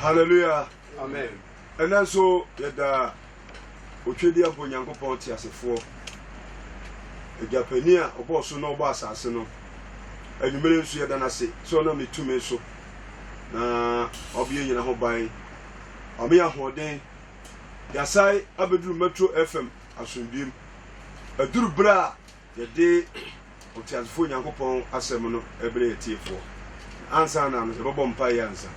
Hallelujah! Amen! Ɛnnɛ nso yɛda Otwedeɛ mpo Nyankopɔn teasefoɔ, Agya Panin a ɔbɔɔ so na ɔbɔɔ asase no, anwummere nso yɛda no ase sɛ ɔnam ne tumi so na ɔbea nyina ho ban, ɔme ahoɔden, yɛasae abɛduru Metro FM asomdwem. Aduru berɛ a Yɛde ɔteasefoɔ Onyankopɔn asɛm no brɛ atiefoɔ. Na ansa na no, yɛbɛbɔ mpaeɛ ansa.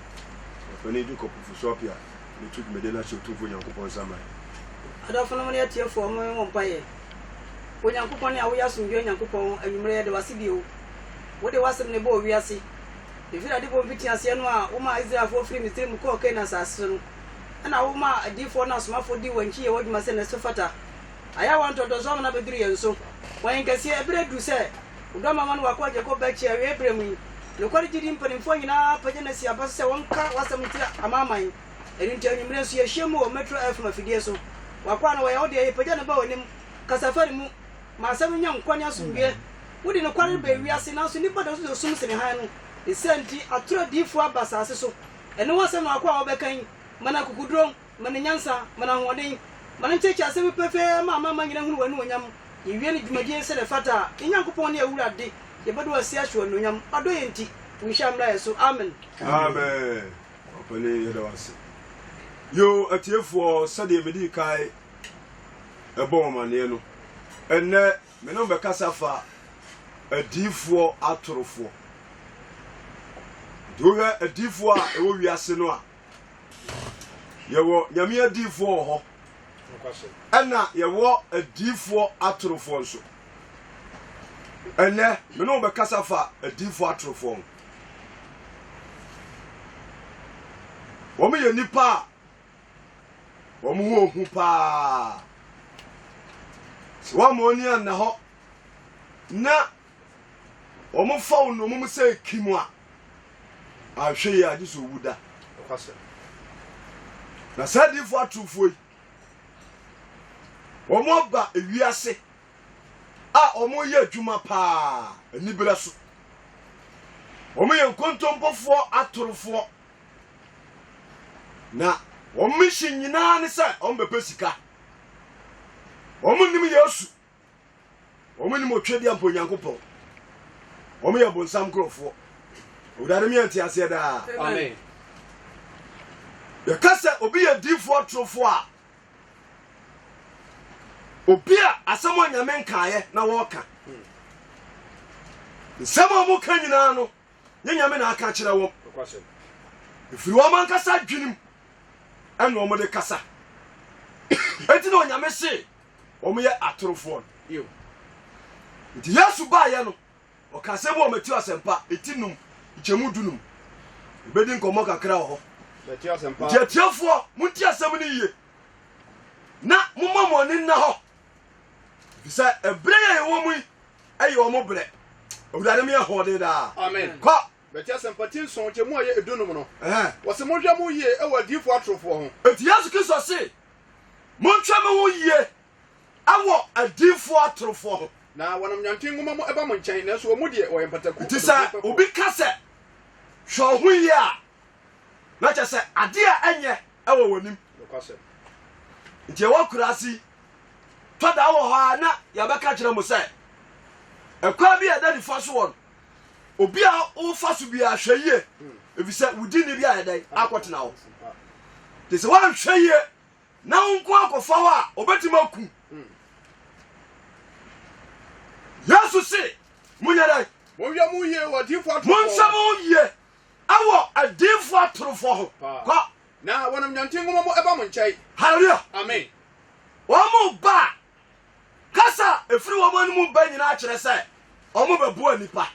Ɔpanin Jacob Ofosu Appiah bɛto dwumadie no ahyɛ Otumfoɔ Onyankopɔn nsa mma yɛn. Adɔfonom ne atiefoɔ, mo yɛn wɔ mpaeɛ. Onyankopɔn ne a woyɛ asomdwoeɛ Nyankopɔn, anwummerɛ yɛde wo ase bio. Wode w'asɛm na ɛbɔɔ wiase. Ɛfiri adebɔ mfitiaseɛ no a womaa Israelfoɔ firii Misiri mu kɔɔ Kanaan asase so no, ɛna womaa adiyifoɔ ne asomafoɔ dii wɔn akyi yɛɛ w'adwuma sɛdeɛ ɛso fata. Ayawa ntɔdɔzɔ amena bɛduru yɛn so. Wɔ yɛn kɛseɛ, ɛberɛ aduru sɛ Wo dɔ Mma Wɔn W'akoa agye kɔ bɛkye awieɛ berɛ mu yi. Nokware gyidi mpanimfoɔ nyinaa apagya no asi aba so sɛ wɔnka W'asɛm nkyerɛ amanaman. Ɛno nti anwummerɛ nso yɛahyia mu wɔ Metro FM afidie so. W'akoa no wɔyɛ Wo dea, yɛpagya no ba W'anim. Kasa fa ne mu. Ma Asɛm no nya nkwa ne asomdwoeɛ. Wode nokware no ba ewiase, nanso nnipa dɔɔso sɛ sum sene hann no. Ne saa nti, atoro adiyifoɔ aba asase so. Ɛno W'asɛm na W'akoa a wɔbɛka yi, ma no akokoduro. Ma no nyansa, ma no ahoɔden, ma no nteɛteɛ asɛm no pefee ma amanaman nyinaa nhunu w'anuonyam. Yɛwie no dwumadie yi sɛdeɛ ɛfata a, yɛn Nyankopɔn ne Awurade, yɛbɛda w'ase ahye wo anuonyam, ɔdɔ yɛn nti. Wo nhyira mmra yɛn so. Amen. Amen. Ɔpanin, yɛda wo ase. Yoo, atiefoɔ, sɛdeɛ medii kan ɛbɔ wɔn amaneɛ no, ɛnnɛ me ne wɔn bɛkasa fa adiifoɔ atorofoɔ. Nti wohwɛ adiifoɔ a ɛwɔ wiase no a, Yɛwɔ Nyame adiyifoɔ wɔ hɔ ɛna yɛwɔ adiyifoɔ atorofoɔ nso. Ɛnɛ me ne wo bɛkasa fa adiyifoɔ atorofoɔ ho. Wɔn yɛ nipa a wɔn ho ohu paa. Sɛ wɔn ani anna hɔ na Wɔfa wo nnommum sɛ ekim a, anhwɛ yie a, gye sɛ owu da. Na saa adiyifoɔ atorofoɔ yi, wɔaba ewiase a wɔyɛ adwuma paa aniberɛ so. Wɔyɛ nkontompofoɔ atorofoɔ. Na wɔn mission nyinaa ne sɛ wɔbɛpɛ sika. Wɔnnim Yesu. Wɔn nim otwa di ampa Onyankopɔn. Wɔn yɛ bonsam nkurɔfoɔ. Awurade mi yɛ nteaseɛ daa. Amen. Yɛka sɛ obi yɛ diifoɔ atorofoɔ a obi a asɛm a nyame nkaeɛ na wɔreka nsɛm a wɔka nyinaa no nyɛ nyame na aka kyerɛ wɔn ɛfiri wɔn ankasa adwenem ɛna wɔn de kasa ɛti na onyame se wɔn yɛ atorofoɔ no. Ew. Nti Yesu baeɛ no, ɔka asɛm wɔ Matthew asɛmpa ɛti num nkyɛmu du num. Ɛbɛdi nkɔmmɔ kakra wɔ hɔ. Nti atiefoɔ, monti asɛm no yie na momma mo ani nna hɔ, ɛfiri sɛ ɛberɛ yɛ yɛwɔ mu yi ɛyɛ wɔn berɛ. Awurade meyɛ hoɔden daa. Amen. Kɔ. Bɛti asɛmpa ti nson nkyɛmu a ɛyɛ ɛdu num no. Wɔse monhwɛ mo yie ɛwɔ adiyifoɔ atorofoɔ ho. Ɛti Yesu Kristo se Montwɛ mo ho yie wɔ adiyifoɔ atorofoɔ ho. Na wɔnam nyanten nwoma mu ba mo nkyɛn, nanso wɔn mu deɛ, wɔyɛ mpataku. Enti sɛ obi ka sɛ, Hwɛ wo ho yie a, na kyerɛ sɛ adeɛ a ɛnyɛ wɔ w'anim. Nokwasɛm. Enti ɛwɔ akuraase yi, tɔ da wɔ hɔ a na yɛbɛka kyerɛ mo sɛ, ɛkwan bi a ɛda nifa so wɔ no, Obi a wofa so bi ahwɛ yie efisɛ wodi nni bi ayɛ dɛn akɔtena hɔ te sɛ woanhwɛ yie na wo nko akɔfa hɔ a obɛtumi aku yesu se monyɛ dɛn monhwɛ mo yie wɔ adiifo atorofo monhwɛ mo yie ɛwɔ adiifo atorofo ho kɔ na wɔnam nyanten nwoma mu ɛba mo nkyɛn hallelujah amen wɔn mo ba Kasa a ɛfiri wɔn anom ba nyinaa kyerɛ sɛ wɔbɛboa nnipa.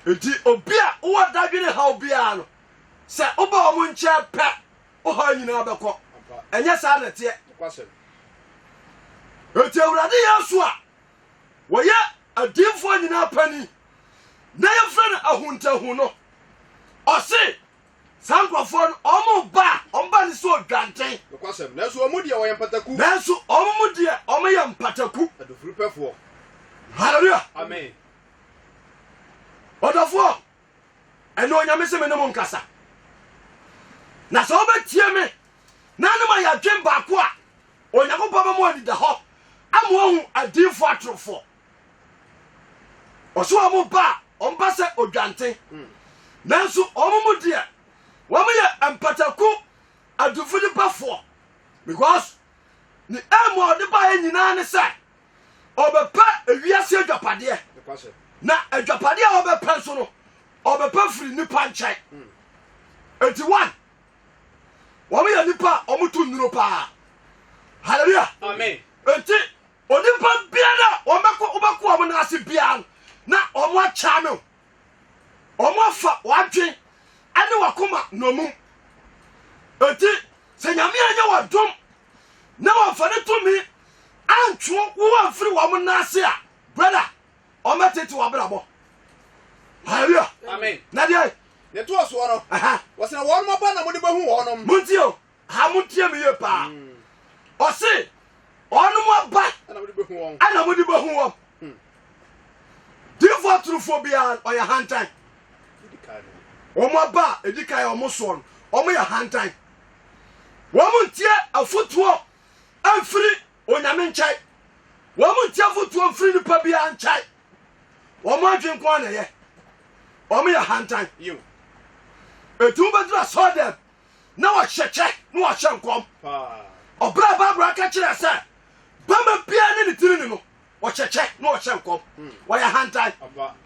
Enti obi a wowɔ dadwene haw biara no, sɛ woba wɔn nkyɛn pɛ, wo haw nyinaa bɛkɔ. Ɛnyɛ saa na ɛteɛ? Enti Awurade Yesu a wɔyɛ adiyifoɔ nyinaa panin na yɛfrɛ no ahuntahu no, ɔse, Saa nkurɔfoɔ no, wɔn ba a, wɔn ba no sɛ odwanten. Nokwasɛm, nanso wɔn mu deɛ wɔyɛ mpataku. Nanso wɔn mu deɛ wɔyɛ mpataku. Adufurupɛfoɔ. Hallelujah. Amen. Ɔdɔfoɔ, ɛnna onyame sɛ me ne mo nkasa. Na sɛ wobɛtie me, na ne ma yɛadwen baako a, Onyankopɔn bɛma anidahɔ ama ohu adiifoɔ atorofoɔ. ɔso wɔn ba a wɔn ba sɛ odwante nanso wɔn mu deɛ wɔn yɛ mpataku adufo nipafoɔ because ne ɛmu a ɔde baeɛ nyinaa ne sɛ ɔbɛpɛ ewiase adwapadeɛ na adwapadeɛ a ɔbɛpɛ nso no ɔbɛpɛ firi nipa nkyɛn eti one wɔn yɛ nipa a wɔn to nnuro paa hallelujah eti Onipa biara a wɔbɛkɔ wobɛkɔ wɔn nan ase biara no, na wɔn akyɛ no. Wɔn afa w'adwen ne w'akoma nnommum. Enti sɛ Nyame anyɛ w'adom na wɔmfa ne tumi antwo wo amfiri wɔn nan ase a, brother, wɔn bɛtete w'abrabɔ. Hallelujah. Amen. Na deɛ. Ne toɔ soɔ no. Wɔsena wɔn mɔpa na mo de bɛhu wɔn. Montie o. Ha montie me yie paa. Ɔse ɔnom aba ɛna mode bɛhu wɔn. ɛna mode bɛhu wɔn. Hmm. Difoɔ turufoɔ biara ɔyɛ hantan. Wɔn aba a ɛdi kan a wɔn soɔ no, wɔn yɛ hantan. Wɔn ntie afotuo mfiri onyame nkyɛn. Wɔn ntie afotuo mfiri nipa biara nkyɛn. Wɔn adwene nko na ɛyɛ. Wɔn yɛ hantan. Etu bɛdura sɔɔ dɛm. na wɔhyɛ kyɛ na wɔhyɛ nkɔm. Ɔberɛ a Bible aka kyerɛ sɛ bɛma biara ne ne tirini no, wɔhyɛ kyɛ na wɔhyɛ nkɔm. Hmm. Wɔyɛ hantan.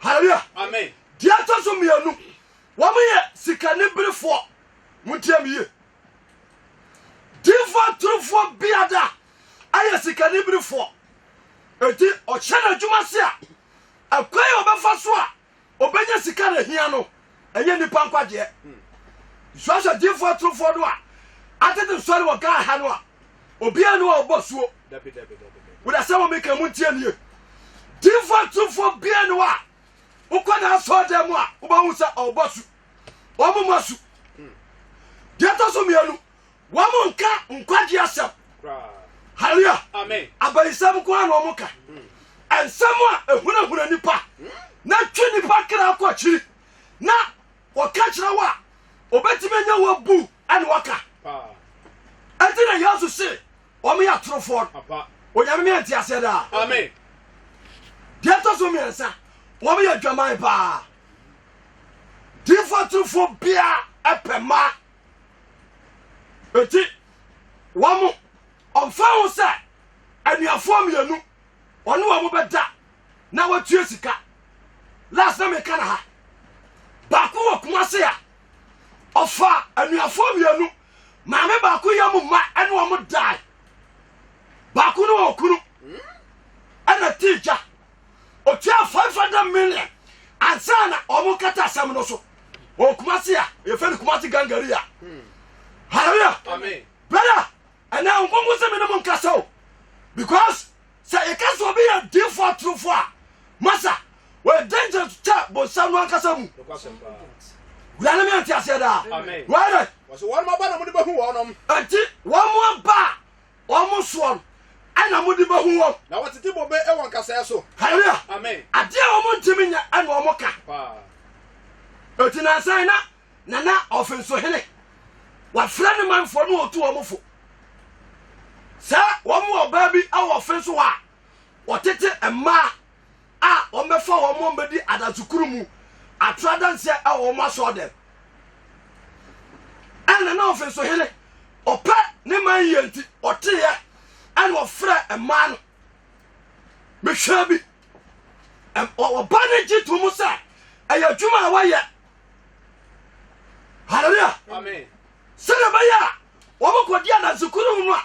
Hallelujah. Amen. Deɛ ɛtɔ so mmienu, wɔn yɛ sikaniberefoɔ. Montie me yie. Difoɔ atorofoɔ biada ayɛ sikaniberefoɔ. Eti ɔhyɛ n'adwuma se a, ɛkwan a ɔbɛfa so a ɔbɛnya sika na hia no ɛnyɛ nnipa nkwagyeɛ nsuasua gyefoɔ atorofoɔ no a atete nsɔre wɔ ghana ha no a obiara ne wɔ ɔbɔ suo woda sɛ wɔ meka mu ntie nie gyefoɔ atorofoɔ biara ne wɔ a wokɔ na asɔɔ dɛ mu a wobɛhu sɛ ɔbɔ su wɔmomɔ su deɛ ɛtɔ so mmienu Wɔn nka nkwagye asɛm. Hallelujah. Amen. Abayisɛm nko ara na wɔn ka. Hmm. Nsɛm a ehunahuna nipa hmm. na twe nipa kra kɔ akyiri na wɔka kyerɛ wo a obetumi anya wo abu ɛna wɔka. Ɛti na Yesu se wɔn yɛ atorofoɔ no. Onyame mi ɛnti aseɛ daa. Amen. Deɛ ɛtɔ so mmiɛnsa wɔn yɛ adwaman paa. Diifoɔ atorofoɔ biara ɛpɛ maa Enti, wɔn, ɔmfa ho sɛ anuafoɔ mmienu ɔne wɔn bɛda na watua sika. Last na meka na ha. Baako wɔ Kumase a ɔfa anuafoɔ mmienu maame baako yɛ mu ma ɛne wɔn dae. Baako no wɔ kunu ɛna ti gya. Otuaa five hundred million ansa na wɔn kata asɛm no so wɔ Kumasi a yɛfɛ no Kumasi gangari a hallelujah brother ɛnna nkonko sɛ me ne mo nkasa o because sɛ yɛka sɛ obi yɛ diifo atorofo a masa wɔyɛ danger kyɛ bonsam no ankasa mu wurade me ante aseɛ daa wɔyɛ dɛ wɔn aba na wɔn de bɛhu wɔn nti wɔn aba a Wɔn soɔ no ɛna mode bɛhu wɔn. Na wɔtete bobe wɔ nkasɛɛ so. Hallelujah. Amen. Adeɛ a wɔn ntumi nyɛ ɛna wɔn ka. Paa. Eti nansan na nana ɔfensohene wafrɛ ne manfoɔ ne ɔtu wɔn fo sɛ wɔn wɔ ɔbaa bi wɔ ɔfen so hɔ a wɔtete mmaa a wɔbɛfa wɔn ma wɔbɛdi adasekuru mu atra danseɛ wɔ wɔn asɔɔdɛm ɛna na ɔfe nso hene ɔpɛ ne man yie nti ɔteeɛ ɛna ɔfrɛ mmaa no mehwɛ bi ɔba no gye to mu sɛ ɛyɛ adwuma a wɔyɛ halleluya sɛdeɛ ɛbɛyɛ a wɔbɛkɔdi adasekuru mu no a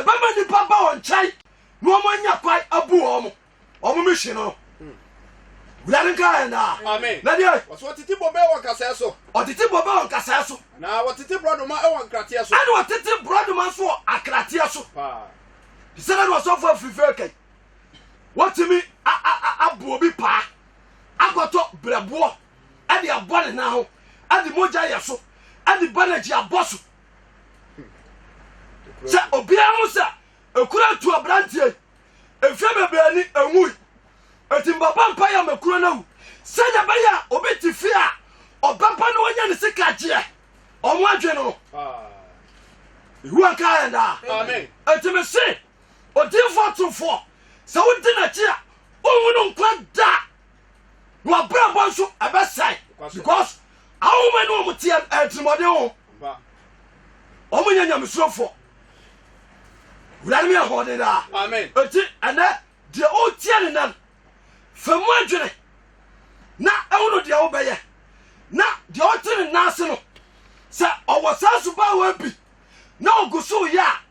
ɛbɛma nnipa ba wɔn nkyɛn na wɔanya kwae abu wɔn wɔn mission no wurade nka yɛn daa amen na deɛ wɔsɛ wɔtete bobe wɔ nkasɛɛ so ɔtete bobe wɔ nkasɛɛ so na wɔtete borɔdoma wɔ nkrateɛ so ɛne wɔtete borɔdoma nso wɔ akrateɛ so te sɛ dɛ ne ɔsɔfoɔ afirifiri kai wɔtumi aboɔ obi paa akɔtɔ berɛboɔ ɛde abɔ ne nan ho ɛde mogya yɛ so ɛde banagyi abɔ so sɛ obiara ho sɛ ɛkura tu aberanteɛ Mfe bebree ni, enwui. Enti mebɛbɔ mpae ama kuro no awu sɛnea ɛbɛyɛ a obi te fie a ɔbɛba na wanya ne sikagyeɛ. Wɔn adwene no Yehowa nka yɛn daa. Enti mese odiyifoɔ torofoɔ, sɛ wodi n'akyi a, wonhunu nkwa da. wɔabrabɔ nso ɛbɛsɛe because ahoma ne wɔn teɛ atirimmɔden ho wɔn nyɛ nyamesurofoɔ wurade meyɛ hɔɔden daa ɛti ɛnɛ deɛ ɔretia ne nan fa mu adwene na ɛhono deɛ wobɛyɛ na deɛ ɔte ne nan ase no sɛ ɔwɔ saa subaawɔ bi na ɔgu so yɛ a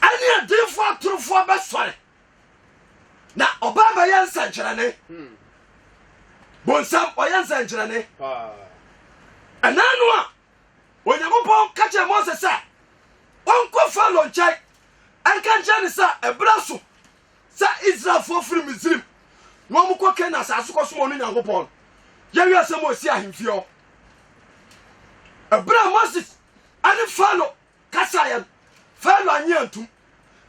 ɛne adiyifoɔ atorofoɔ bɛsɔre na ɔbaa bɛyɛ nsɛnkyerɛnne hmm. bonsam ɔyɛ nsɛnkyerɛnne ɛnaa no a onyankopɔn ka kyerɛ mose sɛ ɔnkɔ falo nkyɛn ɛnka nkyerɛ ne sɛ ɛberɛ so sɛ israelfoɔ firi misrim na ɔmokɔ kana asase kɔ somɔ no nyankopɔn yɛwiɛ sɛ mo ɔsi ahemfie hɔ ɛberɛ a moses ɛne falo Kasa yɛn. Farao annye antum.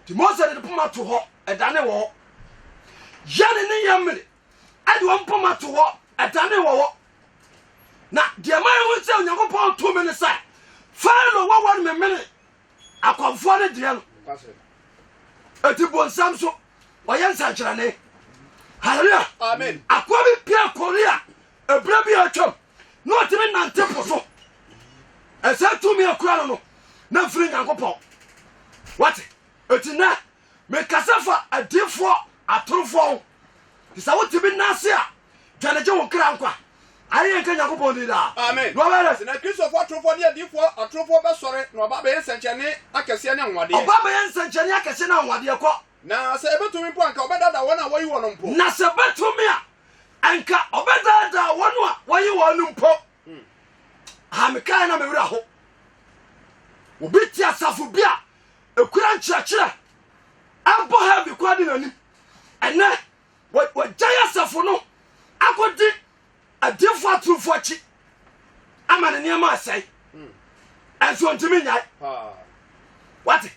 Nti Mose de ne poma to hɔ, ɛdane wɔ hɔ. Yɛne ne yɛn mmere ɛde wɔn poma to hɔ, ɛdane wɔ hɔ. Na deɛ ma yɛhu sɛ Onyankopɔn tumi ne sɛ Farao wɔ wɔn memene akɔmfoɔ ne deɛ no. Ɛti bonsam so ɔyɛ nsɛnkyerɛnne. Hallelujah. Amen. Akoa bi pia Korea Ɛberɛ bi a atwam na ɔtumi nante po so. Ɛsɛ tumi a kura no no na mfiri Nyankopɔn. Wate? Eti nɛ mekasa fa adiifoɔ atorofoɔ ho. Te sɛ wotumi nase a, dwane gye wo nkra nkwa. Ayeyɛ nka Nyankopɔn din daa. Amen. Na ɔbɛyɛ dɛ? Sɛ na Kristofoɔ atorofoɔ ne adiifoɔ atorofoɔ bɛsɔre na ɔba abɛyɛ nsɛnkyerɛnne akɛseɛ ne anwanwadeɛ. Ɔba abɛyɛ nsɛnkyerɛnne akɛseɛ ne anwanwadeɛ. Kɔ. Na sɛ ɛbɛtumi mpo a, anka ɔbɛdaadaa wɔn a wɔyi wɔn mpo. Na sɛ ɛbɛtumi a, Anka ɔbɛdaadaa wɔn a wɔye wɔn no mpo. Ha mekae na me werɛ ho. Obi te asafo bi a ekura nkyerɛkyerɛ ɛbɔ ha bi kwa de n'anim. Ɛnɛ wɔagyae asafo no akɔdi adiyifo atorofo akyi ama ne nneɛma asɛe. Ɛnso ntumi nyae. Wate?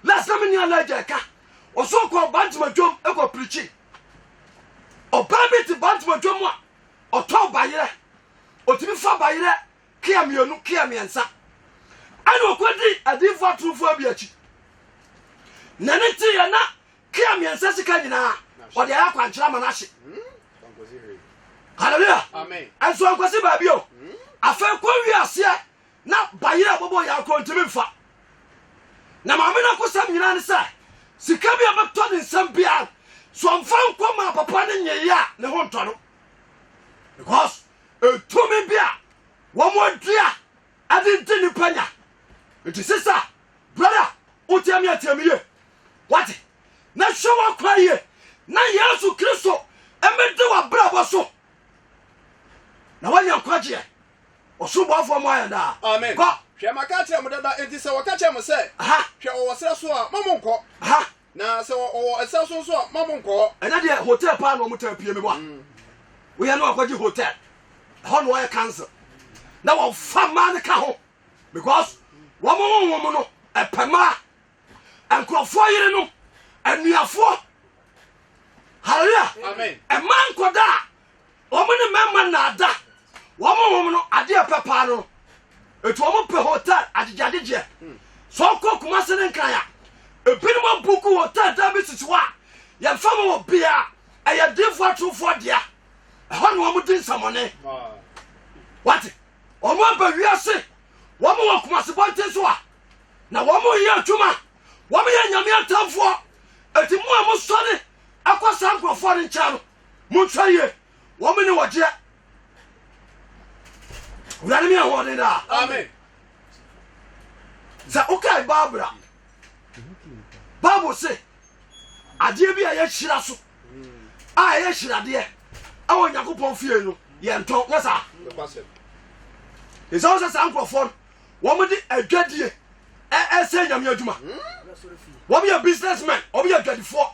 Last time ni Elijah ɛka ɔsɛ ɔkɔ bantama dwom ɛkɔ pirikyi ɔbaa bi te bantama dwom a ɔtɔ bayerɛ ɔtumi fa bayerɛ kea mmienu kea mmiɛnsa ɛna ɔkɔdi adiifo atorofo bi akyi na ne teeɛ na kea mmiɛnsa sika nyinaa ɔde ayɛ akwankyerɛ ma no ahye hallelujah ɛnso ankwasi baabi o afei kɔ wi aseɛ Na bayerɛ a ɔbɛbɔ yare koraa ɔntumi mfa. Na maame no akosɛm nyinaa ne sɛ sika bi a ɛbɛtɔ ne nsam biara no, sɛ ɔmfa nkɔ maa papa no nyeeɛ a, ne ho ntɔ no. Because ɛtumi bi a wɔadua ɛde di nnipa nya. Nti sisa, brother, wotie me atie me yie. Wate? Na hwɛ w'akwan yie. Na Yesu Kristo mmɛdi w'abrabɔ so. Na woanya nkwagyeɛ. Ɔsoro bɔfoɔ mo ayɛ daa. Amen. Kɔ. Hwɛ, maka akyerɛ mo dada, enti sɛ wɔka kyerɛ mo sɛ, Aha. Hwɛ, ɔwɔ serɛ so a, ma monkɔ. Aha. Na sɛ ɔwɔ ɛserɛ so nso a, ma monkɔ hɔ. Ɛnɛ deɛ hotel paa na wɔn taa pie meboa. Mm. Woyɛ no akɔgye hotel. Ɛhɔ na wɔyɛ cancel. Na wɔfa mmaa no ka ho. Because wɔn honhom no ɛpɛ mmaa. Nkurɔfoɔ yerenom, anuafoɔ. Hallelujah. Amen. Ɛmaa nkɔdaa Wɔn ne mmarima nnaadaa wɔn ho wɔn no adeɛ ɛpɛ paa no no ɛti wɔn pɛ hotel agyegyeagyegyeɛ sɛ ɔkɔ Kumase ne nkran a ebinom abuku hotel dan bi sisi hɔ a yɛmfa ma wɔ bia ɛyɛ diifoɔ atorofoɔ dea ɛhɔ na wɔn di nsɛmɔne wate wɔn aba wiase wɔn wɔ Kumase bɔnten so a na wɔn yɛ adwuma wɔn yɛ nyame atamfoɔ ɛti mu a mo sɔre akɔ saa nkurɔfoɔ no nkyɛn no Monhwɛ yie, wɔn mu ne wɔgyeɛ. Awurade mi ahoɔden daa. Amen. Sɛ wokae Barbara, Bible se adeɛ bi a yɛhyira so a ɛyɛ hyiradeɛ ɛwɔ Nyankopɔn fie no yɛntɔn nyɛ saa. Ɛsɛ wo sɛ saa nkurɔfoɔ no wɔmde adwadie ɛsɛ nyame adwuma. Wɔyɛ businessmen, wɔyɛ adwadifoɔ.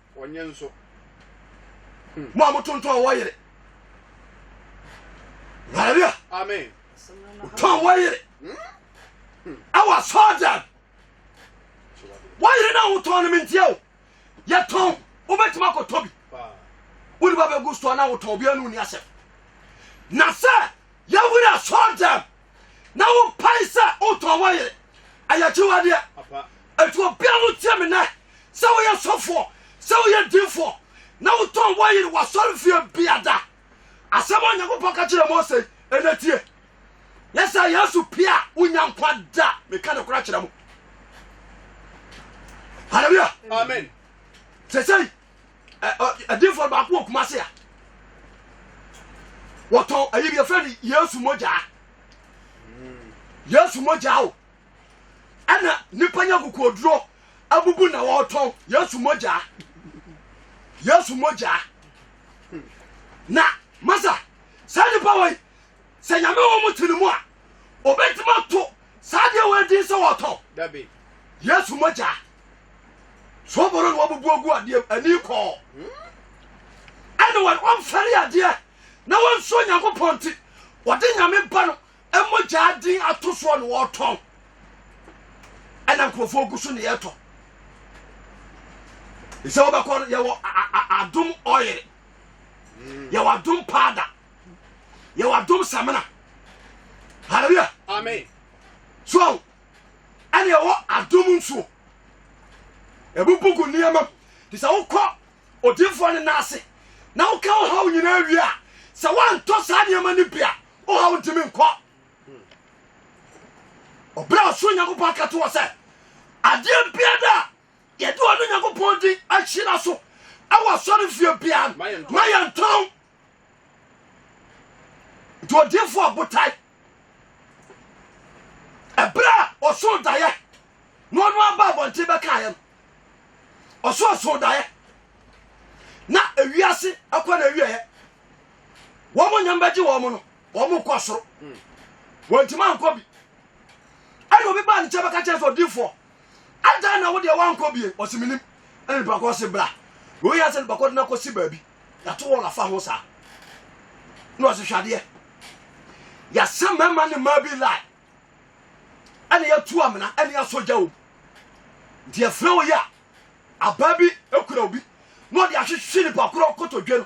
Wɔnyɛ nso. Hmm. Mo a motontɔn wɔ yere. Hallelujah. Amen. Tɔn wɔ yere. Ɛwɔ asɔɔdan. Wɔ yere na wotɔn no mentie o. Yɛtɔn wobɛtumi akɔtɔ bi. Wode ba bɛgu store na wotɔn obiara no wonni asɛm. Na sɛ yɛwere asɔɔdan na wopae sɛ wotɔn wo yere ɛyɛ kyiwadeɛ ɛti obia no tie me nɛ sɛ woyɛ sɔfoɔ sɛ woyɛ dinfoɔ na wotɔn wo yere wasɔre fie biada asɛm a onyankopɔn ka kyerɛ mose ɛnɛ tie yɛ sɛ yesu pie a wonya nkwa da meka ne kora kyerɛ mo halleluya amen sɛsɛi ɛdinfoɔ no baako wɔ Kumasi a wɔtɔn ɛyi bi yɛfrɛ no Yesu mogyaa hmm. Yesu mogyaa o ɛna nipa nya kukuoduro abubu na wɔtɔn Yesu mogyaa Yesu mogyaa na masa saa nipa wɔ yi sɛ nyame wɔ mo tiri mu a obetuma to saa deɛ wɔ adi sɛ wɔtɔn Yesu mogyaa. so ɔbɔrɔ na wabubu agu adeɛ mu ani kɔɔ ɛne wɔn wɔmfɛre adeɛ na wɔnsuo nyankopɔn nti wɔde nyame ba no mogyaa din ato soɔ na wɔtɔn ɛna nkurɔfoɔ gu so ne yɛtɔ sɛ wobɛkɔ no yɛwɔ adom ɔyere mm. yɛwɔ adom paada yɛwɔ adom samena hallelujah amen so ɛne ɛwɔ adom nsuo ɛmu bugu nneɛma mu te sɛ wokɔ odinfoɔ no nan ase na woka wohaw nyinaa wie a sɛ woantɔ saa nneɛma no bi a wohaw ntimi nkɔ ɔberɛ a ɔsoro nyankopɔn aka to wɔ sɛ adeɛ biada a yɛde ɔno nyankopɔn din ahyira so ɛwɔ asɔre fie biara ma yɛntɔn nti ɔdinfoɔ botae Ɛberɛ a ɔsoo daeɛ na ɔno ara baa abɔnten bɛkaeɛ no, ɔsoo soo daeɛ na ewiase akɔ na awieɛ wɔn nyam bɛgye wɔn no wɔn kɔ soro wɔntumi ankɔ bi ɛna obi baa ne nkyɛn bɛka kyerɛ sɛ odiifoɔ adɛn na wodeɛ woankɔ bie ɔse menim ɛne nipa kɔ se bra wei yɛ sɛ nipa kɔ de no akɔsi baabi yɛato wɔ lafa ho saa na ɔse hwadeɛ yɛasɛ mmarima ne mmaa bi lie ɛne yɛatu amena ɛne yɛasɔ gya wom nti yɛfrɛ wo yɛ a abaa bi kura obi na ɔde ahwehwe nipa korɔ kotodwe no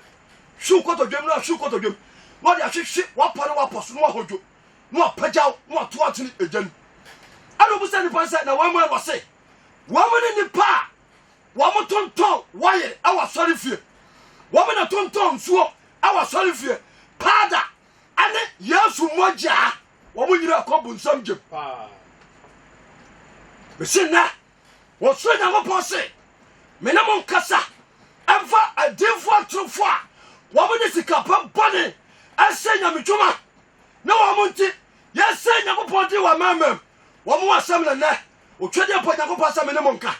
hwiw kotodwe mu na hwiw kotodwe mu na ɔde ahwehwe wapa no wapɔ so na wahodwo na wɔapagyaw na wɔatow akyene egya no mu. Ɛnna obisa nnipa no sɛ, Na wɔn ɛ? Wɔse, Wɔn ne nnipa a wɔtontɔn wɔyere wɔ asɔrefie, wɔn na tontɔn nsuo wɔ asɔrefie, paada ne Yesu mogya, wɔn nyinaa kɔ bonsam gyam. Mese nnɛ, Wɔsrɛɛ Nyankopɔn se, Me ne mo nkasa mfa adiyifoɔ atorofoɔ a wɔde sikapa bɔne ahyɛ nyamedwuma ne wɔn nti yɛsɛe Nyankopɔn din wɔ amamam wɔn asɛm na nnɛ otwadeɛ pɔ Nyankopɔn sɛ me ne mo nka.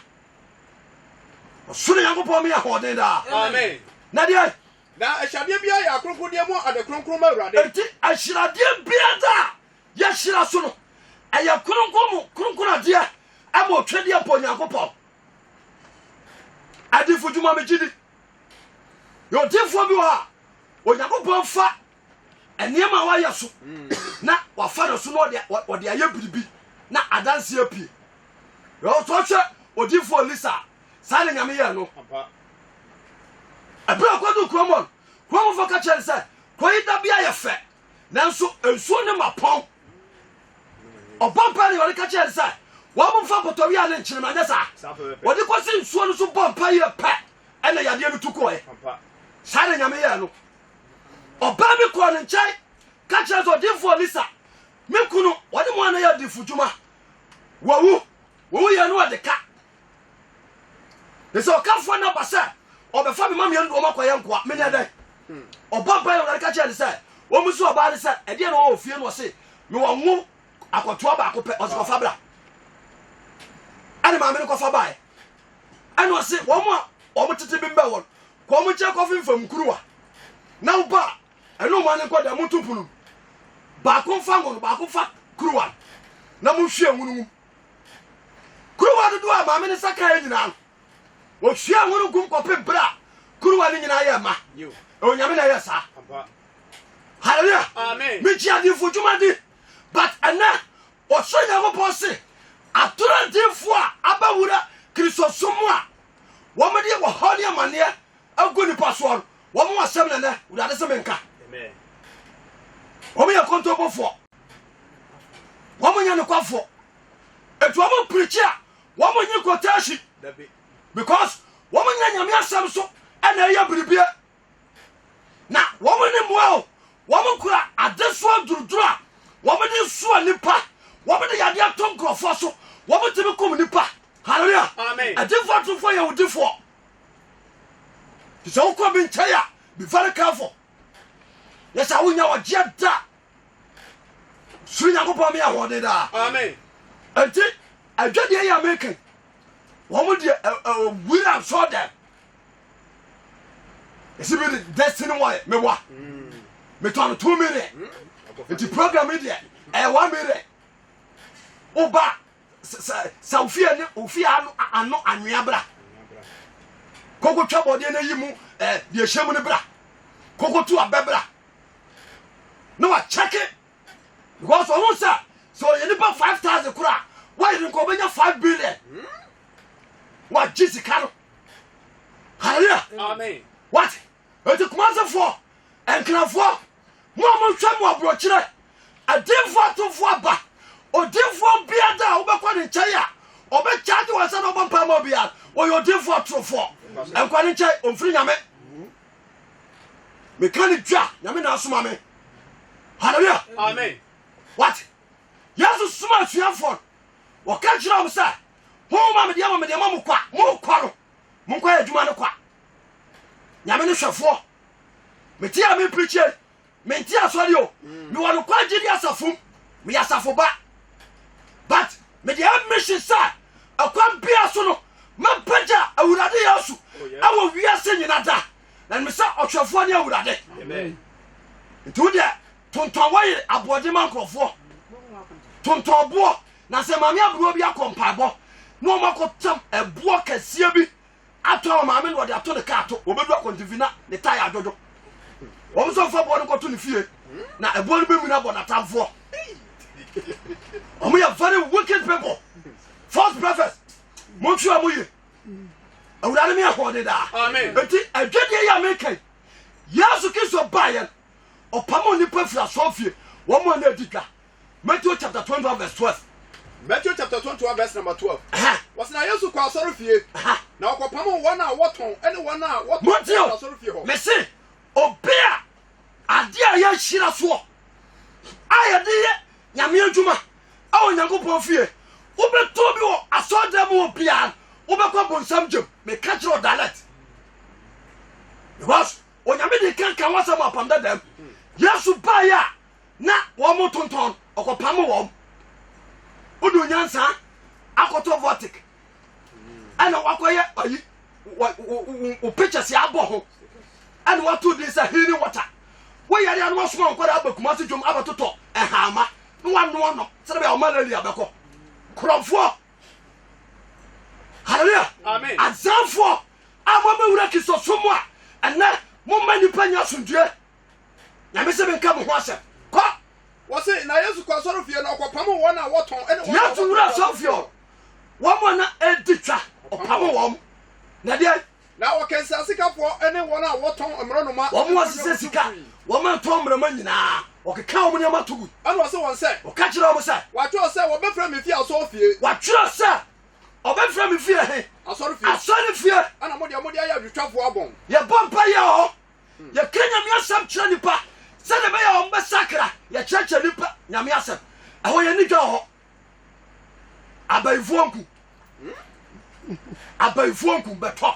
Ɔsoro Nyankopɔn me ahoɔden daa. Amen. Na deɛ na ahyiradeɛ biara yɛ akronkrondeɛ mu ade kronkron ma Awurade. Enti ahyiradeɛ biara a Yɛhyira so no, ɛyɛ kronkron mu kronkron adeɛ ɛma otwedeɛ mpo Onyankopɔn. Adifo dwuma me gyidi. Yɛ odifoɔ bi wɔ ha, Onyankopɔn fa nneɛma a wayɛ so na wafa no so na ɔde ayɛ biribi na adanseɛ pie. Yɛ ɔtɔ hwɛ odifoɔ Elisa a, saa na Nyame yɛɛ no. Ɛberɛ a ɔkɔdu kurom hɔ no, kuromfoɔ ka kyerɛ no sɛ, kɔyi dabea yɛ fɛ Nanso nsuo no ma pɔn. Ɔbɔ mpaeɛ na Awurade ka kyerɛɛ no sɛ, wɔmfa mpɔtɔwia ne nkyenema nyɛ saa. Wɔde kɔsi nsuo no so bɔ mpaeɛ yɛ pɛ ɛna yadeɛ no tu kɔɛ. Saa na Nyame yɛɛ no. Ɔbaa bi kɔɔ ne nkyɛn ka kyerɛ sɛ ɔdinfoɔ Elisa, me kunu ɔne mo ana yɛ adifo dwuma. Wawu. Wawu yɛ no ɔde ka. Ɛsɛ ɔkafoɔ no aba sɛ ɔbɛfa me mameɛ no wɔn akɔyɛ nkoa. Menyɛ dɛn? Hmm. Ɔbɔ mpa yɛ Awurade ka kyerɛ ne sɛ, wɔn nso ɔbaa ne sɛ, ɛdeɛ na wɔwɔ fie no ɔse, mewɔ ngo akɔtoa baako pɛ, ɔse kɔfa bra. Ɛne maame no kɔfa baeɛ. Ɛne ɔse wɔn a wɔn tete bi mbɛ wɔn, kɔ wɔn nkyɛn kɔfe mfam kuruwa. Na wo ba a, ɛne wɔn nkɔ dɛ, moto punu. Baako mfa ngo no, baako mfa kuruwa. Na monhwie ngo no mu. Kuruwa dodoɔ a maame no nsa kaeɛ nyinaa no, ɔhwiee ho no gum kɔpem berɛ a kuruwa no nyinaa yɛɛ ma. Onyame na ɛyɛ saa. Hallelujah. Amen. Me gye adinfo dwuma di. But ɛnɛ, ɔsoro Nyankopɔn se, atoro adinfo a abɛwura Kristosom mu a wɔde wɔhaw ne amaneɛ agu nipa soɔ no, wɔn asɛm na ɛnɛ Awurade se menka. Wɔn yɛ kontompofoɔ. wɔn nyɛ nokwafoɔ ɛti wɔn pirikyi a wɔn nye quotation because wɔn nyɛ nyame asɛm so ɛna ɛyɛ biribie na wɔn ne mmoa o wɔn kura adesoa duruduru a wɔn de soa nipa wɔn de yadeɛ ato nkurɔfoɔ so wɔn tumi kum nipa hallelujah ɛdifoɔ atufoɔ yɛ wodifoɔ sɛ wokɔ bi nkyɛn a be very careful yɛ sɛ wonya wɔgyeɛ da soro nyankopɔn me ahoɔden daa enti adwadeɛ yɛ meka wɔn deɛ wura nsɔ dɛm ɛsi bi destiny wɔyɛ mewa metɔ no two million nti program yi deɛ ɛyɛ one million woba sɛ wofie ne wofie ano ano anwea bra koko twɛ bɔdeɛ no ayi mu deɛ hyɛ mu no bra koko to abɛ bra na wakyɛke because ɔho sɛ sɛ ɔyɛ nipa 5000 koro a wayere nka ɔbɛnya 5 billion wagye sika no hallelujah amen what ɛti kumasefoɔ nkrafoɔ mo a mohwɛ mo aborɔkyerɛ adinfoɔ atomfoɔ aba odinfoɔ bia da a wobɛkɔ ne nkyɛn a ɔbɛkyagye wɔ sɛ na ɔbɔ mpa ma obiara ɔyɛ odinfoɔ atorofoɔ nkɔ ne nkyɛn ɔmfiri nyame meka ne di a nyame na asoma me hallelujah amen wate yesu soma asuafoɔ no wɔka kyerɛ wɔn sɛ honhom a mede ama mede ama mo kwa monkɔ no monkɔ yɛ adwuma no kwa nyame ne hwɛfoɔ mete a mempirikyie Mente asɔre o. Mewɔ nokware gyidi asafo mu. Meyɛ asafo ba. But mede ayɛ mission sɛ ɛkwan bia so no mɛpagya Awurade Yesu ɛwɔ oh, wiase nyina da. Na nim sɛ ɔhwɛfoɔ ne Awurade. Nti wo deɛ tontɔn wɔyere aboɔden ma nkurɔfoɔ. Tontɔn boɔ na sɛ maame aburuwa bi akɔ mpaebɔ na wɔn akɔtam ɛboɔ kɛseɛ bi Atɔ a ɔmaame na ɔde ato ne kaa to. Ɔbɛdu akwantemfi na ne tae adwodwo. Wɔn nso mfa boɔ no nkɔto ne fie na ɛboɔ no bɛmuni abɔ n'atamfoɔ. Wɔn yɛ very wicked people. False prophets. Monhwɛ wɔn yie. Awurade mi ahoɔden daa. Eti adwadeɛ yi a meka yi, Yesu Kristo baeɛ no, ɔpam nnipa firi asɔrefie, wɔn a na adi dwa. Matthew chapter twenty one verse twelve. Matthew chapter twenty one verse number twelve. Wɔsi na Yesu kɔ asɔre fie. Na ɔkɔ pam wɔn a wɔtɔn ɛne wɔn a wɔtɔn ɛne asɔre fie hɔ. Mesi obi a adeɛ a yɛahyira soɔ a yɛde yɛ nyame adwuma a onyankopɔn fie wobɛtɔ bi wɔ asɔɔdan mu wɔ biara wobɛkɔ bonsam gyam meka kyerɛ ɔ direct because onyame de kanka wasɛm apam dadam yesu baeɛ a na wɔn tontɔn ɔkɔpam wɔn wodu nyansa akɔtɔ vɔtik ɛna wakɔyɛ ayi wo pictures abɔ ho ɛna wato din sɛ healing water woyɛre ano wasoma nkɔda aba kuma se dwom abɛtotɔ ɛhaama na wanoa no sɛde bɛyɛ ɔmalaria bɛkɔ korɔmfoɔ hallelujah amen azanfoɔ a mobɛwura kristosom a ɛnɛ momma nnipa nya asomdwoeɛ Nyame se menka mo ho asɛm. Kɔ! Wɔse, na Yesu kɔ asɔrefie na ɔkɔpamo wɔn a wɔtɔn ne wɔn a Yesu wura asɔrefie hɔ, wɔn a na edi twa, ɔpamo wɔn. Na deɛn? Na ɔkansia sikafoɔ ne wɔn a wɔtɔn mmorɔnoma. Wɔn a wɔsesɛ sika, wɔn a ntɔn mmorɔma nyinaa, ɔkeka wɔn nneɛma to gu. Ɛna ɔse wɔn sɛ. Ɔka kyerɛ wɔn sɛ. Wɔatwerɛ sɛ wɔbɛfrɛ me fie asɔrefie. Wɔatwerɛ sɛ ɔbɛfrɛ me fie he. Asɔrefie. Asɔrefie. Ɛna mo deɛ mode ayɛ adwotwafoɔ abɔn. Yɛbɔ mpa yɛ hɔ. yɛka nyame asɛm kyerɛ nnipa sɛdeɛ ɛbɛyɛ wɔn bɛsakra yɛkyerɛkyerɛ nnipa nyame asɛm ɛhɔ yɛni dwa wɔ hɔ abayifoɔ nku abayifoɔ nku bɛtɔ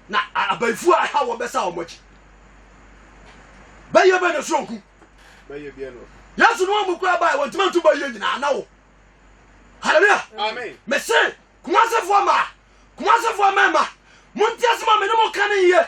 na abayifoɔ a ɛha wɔn bɛsa wɔn akyi bɛyɛ bɛ na so nku yesu no ɔmu kura bae wɔntumi nto bɛyɛ nyinaa na wo hallelujah amen mese kumasefoɔ ma kumasefoɔ mɛma montiasɛm a mene mo ka ne yɛ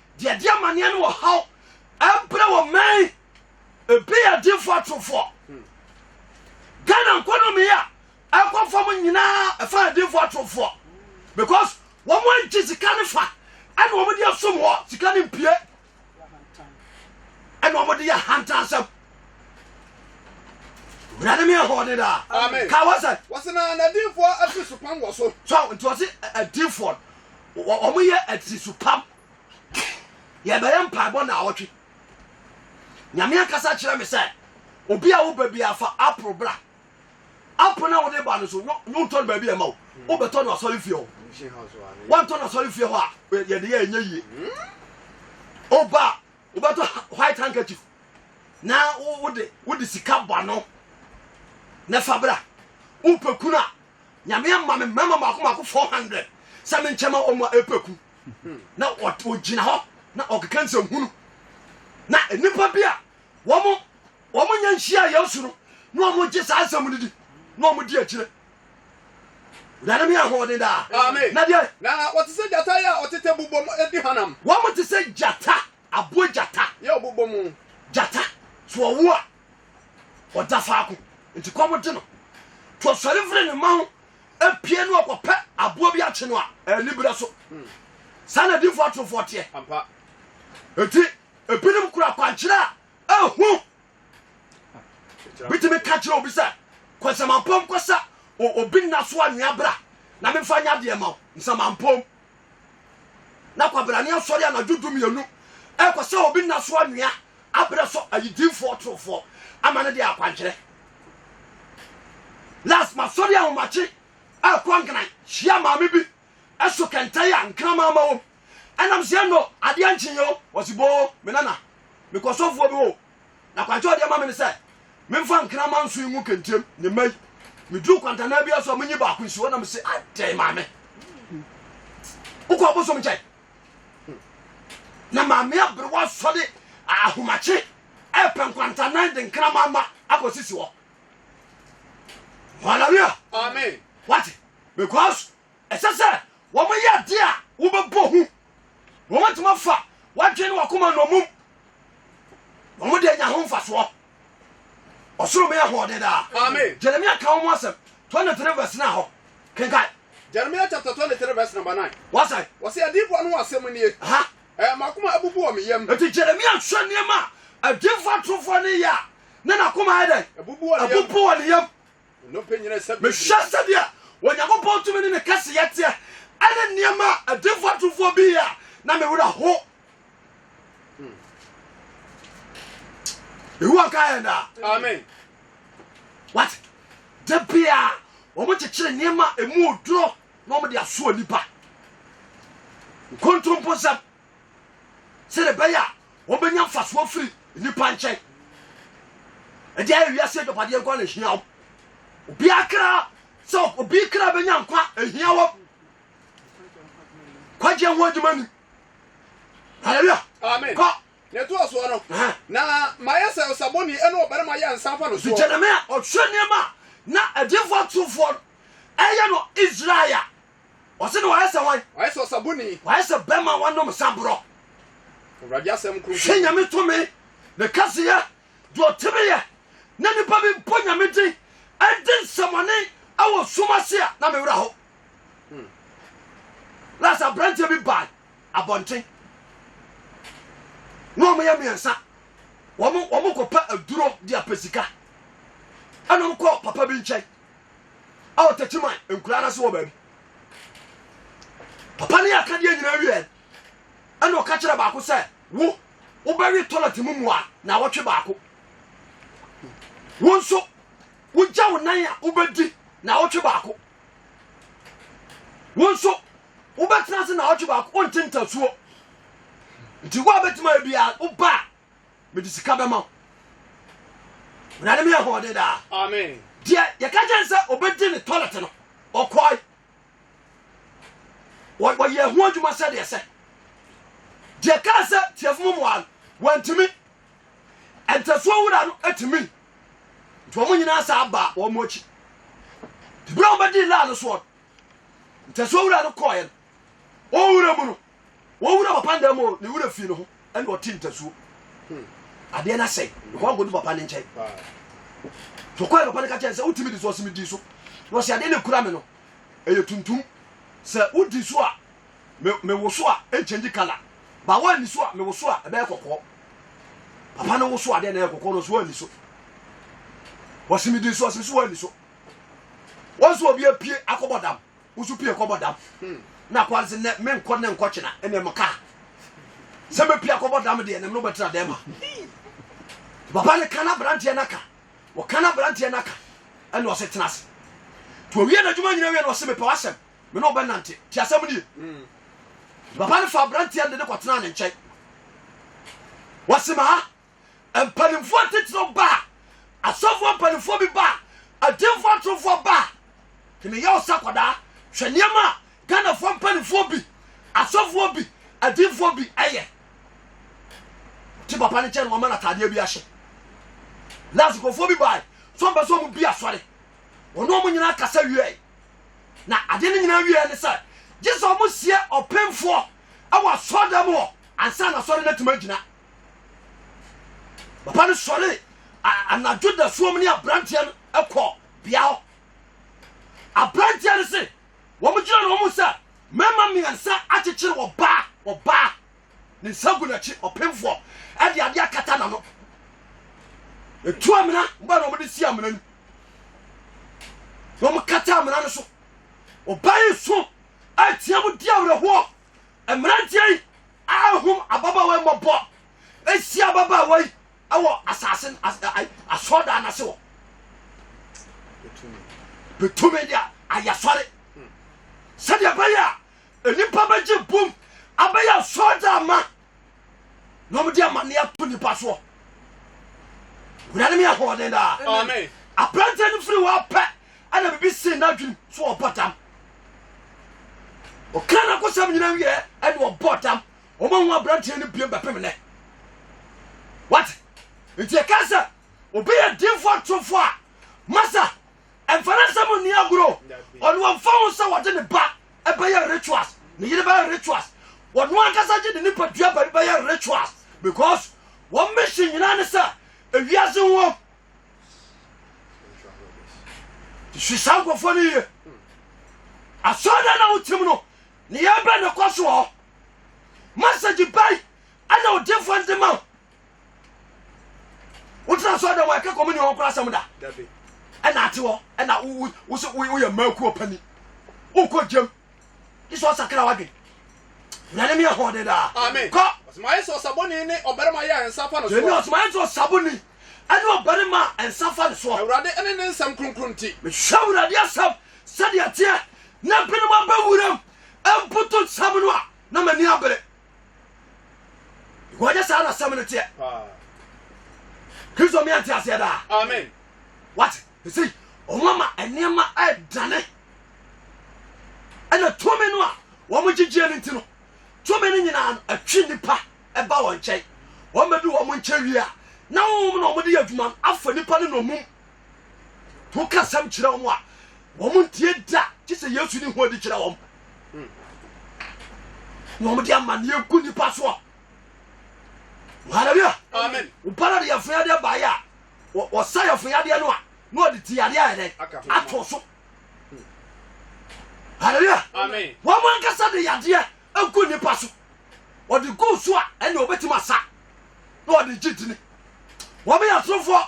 Deɛ ɛde amaneɛ ne ɔhaw ɛbrɛ wɔ mmɛn ebi yɛ difoɔ atorofoɔ hmm. Ghana nkɔnɔmi a ɛkɔ fam nyinaa ɛfa yɛ difoɔ atorofoɔ because wɔn agye sika ne fa ɛna wɔn de asom hɔ sika ne mpie ɛna wɔn de yɛ ahantansɛm wurade mi ɛhɔ ne daa ka wɔsɛ. wɔsɛ na na difoɔ afi so pam wɔ so. sɔ nti wɔsi ɛdifoɔ. Wɔyɛ atirisopam. Yɛbɛyɛ mpaebɔ naawɔtwe. Nyame ankasa kyerɛ me sɛ, obi a woba biara fa apple bra. Apple na wode ba no so, wontɔ no baabi a ɛma wo. Wobɛtɔ no asɔre fie hɔ. Woantɔ no asɔre fie hɔ a, yɛde yɛ ɛnyɛ yie. Oba a, wobɛtɔ white handkerchief na wode wode sika bɔ ano na fa bra. Wopɛ kunu a, Nyame ama me mmarima mmaako mmaako four hundred sɛ me nkyɛn ma wɔn a ɛpɛ ku na ɔgyina hɔ na ɔkeka nsɛnhunu na nnipa bi a wɔn wɔn nyɛ nhyia Yesu no na wɔn gye saa nsɛm no di na wɔn di akyire wurade mi ahoɔden daa na deɛ na wɔte sɛ gyata yi a ɔtete bobɔ mu edi hanam wɔn te sɛ gyata aboa gyata yɛ ɔbobɔ mu gyata so ɔwo a ɔda faako nti kɔm de no nti ɔsɔre firi ne mma ho apue no ɔkɔpɛ aboa bi akye no a ɛni berɛ so hmm. saa na difoɔ atorofoɔ teɛ ɛti ebinom kura kwankyerɛ a ɛhu bitumi ka kyerɛ obi sɛ kɔsɛmampɔm kɔsa obi nna so anwea bra na memfa nya deɛ ma wo nsɛmampɔm Na kwabrane asɔre anadwo dumienu rekɔ sɛ obi nna so anwea abrɛ so ayidimfoɔ torofoɔ ama no de akwankyerɛ. Last masɔre ahomakye ɛrekɔ nkran hyia maame bi ɛso kɛntɛn a nkraman ma wom ɛnam sɛ no adeɛ nkyeeɛ o wɔsi boo me nana mekɔ sɔfoɔ bi o Na kwankyɛ a ɔde ama me ne sɛ memfa nkraman nson ngu kɛntiam ne mma yi. Meduru kwantanaa bi aso a menyi baako nsi hɔ na mese, adɛn maame? Wokɔ abosom nkyɛn? Na maame aberewa sɔ de ahomakye ɛpɛ nkwantanan de nkraman ma akɔsisi hɔ. Hallelujah. Amen. Wate? Because Ɛsɛ sɛ wɔyɛ ade a wobɛbɔ hu, na wɔbɛtumi afa w'adwene ne w'akoma nnommum, na wɔde anya ho mfasoɔ. Ɔsoro me ahoɔden daa. Amen. Jeremia ka wɔn asɛm 23 verse 9 hɔ. Kenkan. Jeremia chapter 23 verse number 9. Wɔsɛn. Wɔsɛ adiifoɔ no asɛm nie. Aha. Ɛɛ m'akoma abubu wɔ me yam. Eti Jeremia hwɛ nneɛma a adiifoɔ atorofoɔ no yɛ a na n'akoma ayɛ dɛn? Abubu wɔ ne yam. Mehwɛ sɛdeɛ Onyankopɔn tumi ne ne kɛseyɛ teɛ ɛne nneɛma a adifoɔ atufoɔ bi yɛ a na me werɛ ho. Yehowa nka yɛn daa. Amen. What? Da biara wɔn kyekyere nneɛma a emu oduro na wɔn de asoɔ nipa. Nkontomposɛm. sɛdeɛ ɛbɛyɛ a wɔbɛnya mfasoɔ firi nnipa nkyɛn ɛde ayɛ wiase adwapadeɛ nkwa na ɛhia wɔn obiara kra sɛ obi kra bɛnya nkwa ɛhia wɔn kwagyeɛ ho adwuma ni hallelujah amen kɔ na ɛto asoɔ no na mayɛ sɛ ɔsabɔni ɛne ɔbarima yɛ nsa fa no soɔ gyeremia ɔhwɛ nneɛma na adifoɔ atofoɔ no ɛyɛ no israel Ɔse no wayɛ sɛ wan? Wayɛ sɛ ɔsaboni. Wayɛ sɛ bɛma wanom saborɔ. Awurade asɛm kronkron. Hwɛ nyame tumi ne kɛseyɛ deɛ ɔtumi yɛ na nipa bi bɔ nyame din ɛdi nsɛmɔne ɛwɔ sum ase a na mewura ho. Hmm. Last aberanteɛ bi baa abɔnten na wɔn yɛ mmiɛnsa wɔn wɔn kɔpɛ aduro de apɛ sika ɛna wɔn kɔ papa bi nkyɛn. a ɔtakyi man nkura no ase wɔ baabi papa ne akadeɛ nyinaa wiɛ ɛna ɔka kyerɛ baako sɛ wo wobɛwe tɔlɛt mu mua na wɔtwe baako wo nso wogya wo nan a wobɛdi na wɔtwe baako wo nso wobɛtena ase na wɔtwe baako wonte ntasuo nti wo a bɛtumi ayɛ biara woba a mede sika bɛma wo na ne meyɛ hɔɔde daa amen deɛ yɛka kyɛn sɛ ɔbɛdi ne toilet no ɔkɔe wɔyɛ ho adwuma sɛdeɛ sɛ deɛ kaa sɛ tiafo mu mmoa no wantumi ɛntɛsoɔ wura no atumi nti wɔn nyinaa saa baa wɔn akyi berɛ a wɔbɛdi laa no soɔ no ntɛsoɔ wura no kɔɔeɛ no ɔwura mu no Wɔn wura papa nda mu o, ne wura fie no ho ɛna ɔte ntasuo. Hmm. Adeɛ no asɛe, nkɔa nkɔdu papa no nkyɛn. Tokɔɛ papa no ka kyɛn sɛ wotumi di so ɔsɛ medi so. Na ɔsɛ adeɛ no ɛkura me no, ɛyɛ tuntum. Sɛ wodi so a, mewo so a, ɛnkyɛngye kala. Ba woanni so a, mewo so a, ɛbɛyɛ kɔkɔɔ. Papa no wo so adeɛ na ɛyɛ kɔkɔɔ no so woanni so. Ɔsɛ medi so ɔsɛ so woanni so. Wɔn so obi apue akɔbɔ dam. Woso pie kɔbɔ dam na akɔ ase nɛ menkɔ nɛ nkɔ kyena ɛnɛ mo kaa sɛ mɛpie akɔbɔ dam deɛ nɛ mene wobɛtra dɛm a papa no ka no aberanteɛ no aka wɔka no aberanteɛ no aka ɛne ɔse tena ase nti owie n'adwuma nyina wie na ɔse mepɛ w'asɛm me ne wobɛnante nti asɛm nie papa no fa aberanteɛ no de ne kɔtena ne nkyɛn wɔse ma ha mpanimfoɔ atitiriw ba a, asɔfoɔ mpanimfoɔ bi ba a, agyimfoɔ atorofoɔ ba a, hene yɛ ɔsa kɔdaa hwɛ nneɛma a Ghanafoɔ mpanimfoɔ bi, asɔfoɔ bi, agyimfoɔ bi ɛyɛ. Ti papa no kyɛ no wɔma no ataadeɛ bi ahyɛ. Last nkurɔfoɔ bi bae sɛ ɔmpɛ sɛ ɔmo bi asɔre. Wɔne ɔmo nyinaa kasa wieɛ. Na adeɛ no nyinaa wieɛ ne sɛ gye sɛ ɔmo sie ɔpemfoɔ ɛwɔ asɔɔdan mu hɔ ansa na asɔre no atumi agyina. papa no sɔre anadwo da suom ne aberanteɛ no kɔ bea hɔ aberanteɛ no se wɔn gyina na wɔn sɛ mmarima mmiɛnsa akyekyere wɔ baa wɔ baa ne nsa gu n'akyi ɔpemfoɔ ɛde adeɛ akata n'ano etu amena ba na wɔn de si amena no wɔn kata amena no so ɔbaa yi so atia mu di awerɛhoɔ Mmeranteɛ yi ahum ababaawa mmɔbɔ ahyia ababaawa yi wɔ asase asɔɔdan no ase wɔ bɛtumi de ayɛ sɔre sɛdeɛ ɛbɛyɛ a nnipa bɛgye bom abɛyɛ asɔɔdan ma na wɔde amanneɛ ato nipa soɔ wurade meyɛ ahoɔden daa aberantɛ no firi hɔ pɛ ɛna bibi see n'adwenem so ɔbɔ dam ɔka no akɔsɛm nyina wieɛ ɛne ɔbɔ dam ɔma ho aberanteɛ no biem bɛpem nɛ what nti ɛka sɛ obi yɛ dimfoɔ atorofo a masa Ɛmfa no asɛm nni agorɔ. Ɔno ɔmfa ho sɛ wɔde ne ba bɛyɛ rituals, ne yere bɛyɛ rituals. Ɔno ankasa gye ne nipadua baabi bɛyɛ rituals because wɔn mission nyinaa ne sɛ ewiase ho wɔm. Su saa nkurɔfoɔ no yie. Asɔɔdan na wotim no, ne yɛbɛ ne kɔ soɔ. Message bai ɛna ɔdinfoɔ nde ma wo. wogyina asɔre dɛm a ɛka kɔmini wɔn kora asɛm da ɛna ate hɔ ɛna wosɛ woyɛ mmakuo pani wokɔ gyam gye sɛ ɔsakra wadwen nyane meyɛ hɔde daa kɔ ɔsomayɛ sɛ ɔsaboni ne ɔbarima yɛ a nsa fa no soɔ gyeni ɔsomayɛ sɛ ɔsaboni ɛne ɔbarima a nsa fa no soɔ awurade ɛne ne nsɛm kronkron nti mehwɛ awurade asɛm sɛdeɛ teɛ na binom abɛwuram mputu nsɛm no a na m'ani abere wɔnyɛ saa na asɛm no teɛ kristo mmea nte aseɛ daa amen wate ɛsei ɔmo ama nneɛma ɛdane ɛna tumi no a wɔn gyegyeɛ no nti no tumi no nyinaa no atwi nnipa ɛba wɔn nkyɛn wɔn bɛdu wɔn nkyɛn wie a na wɔn na wɔn de yɛ adwuma no afa nnipa no nɔmum To ka asɛm kyerɛ wɔn a, wɔn ntie da, gye sɛ Yesu ne ho adi kyerɛ wɔn. Na wɔn de amanneɛ gu nipa soɔ. Hallelujah. Amen. Wobara de yɛfo yadeɛ baeɛ a, wɔsa yɛfo yadeɛ no a, na wɔde ti yadeɛ ayɛ dɛn? Ato so. Hallelujah. Amen. Wɔn ankasa de yadeɛ agu nipa so. Wɔde gu so a, ɛnna wɔbɛtumi asa na wɔde gye dini. Wɔn yɛ atorofoɔ.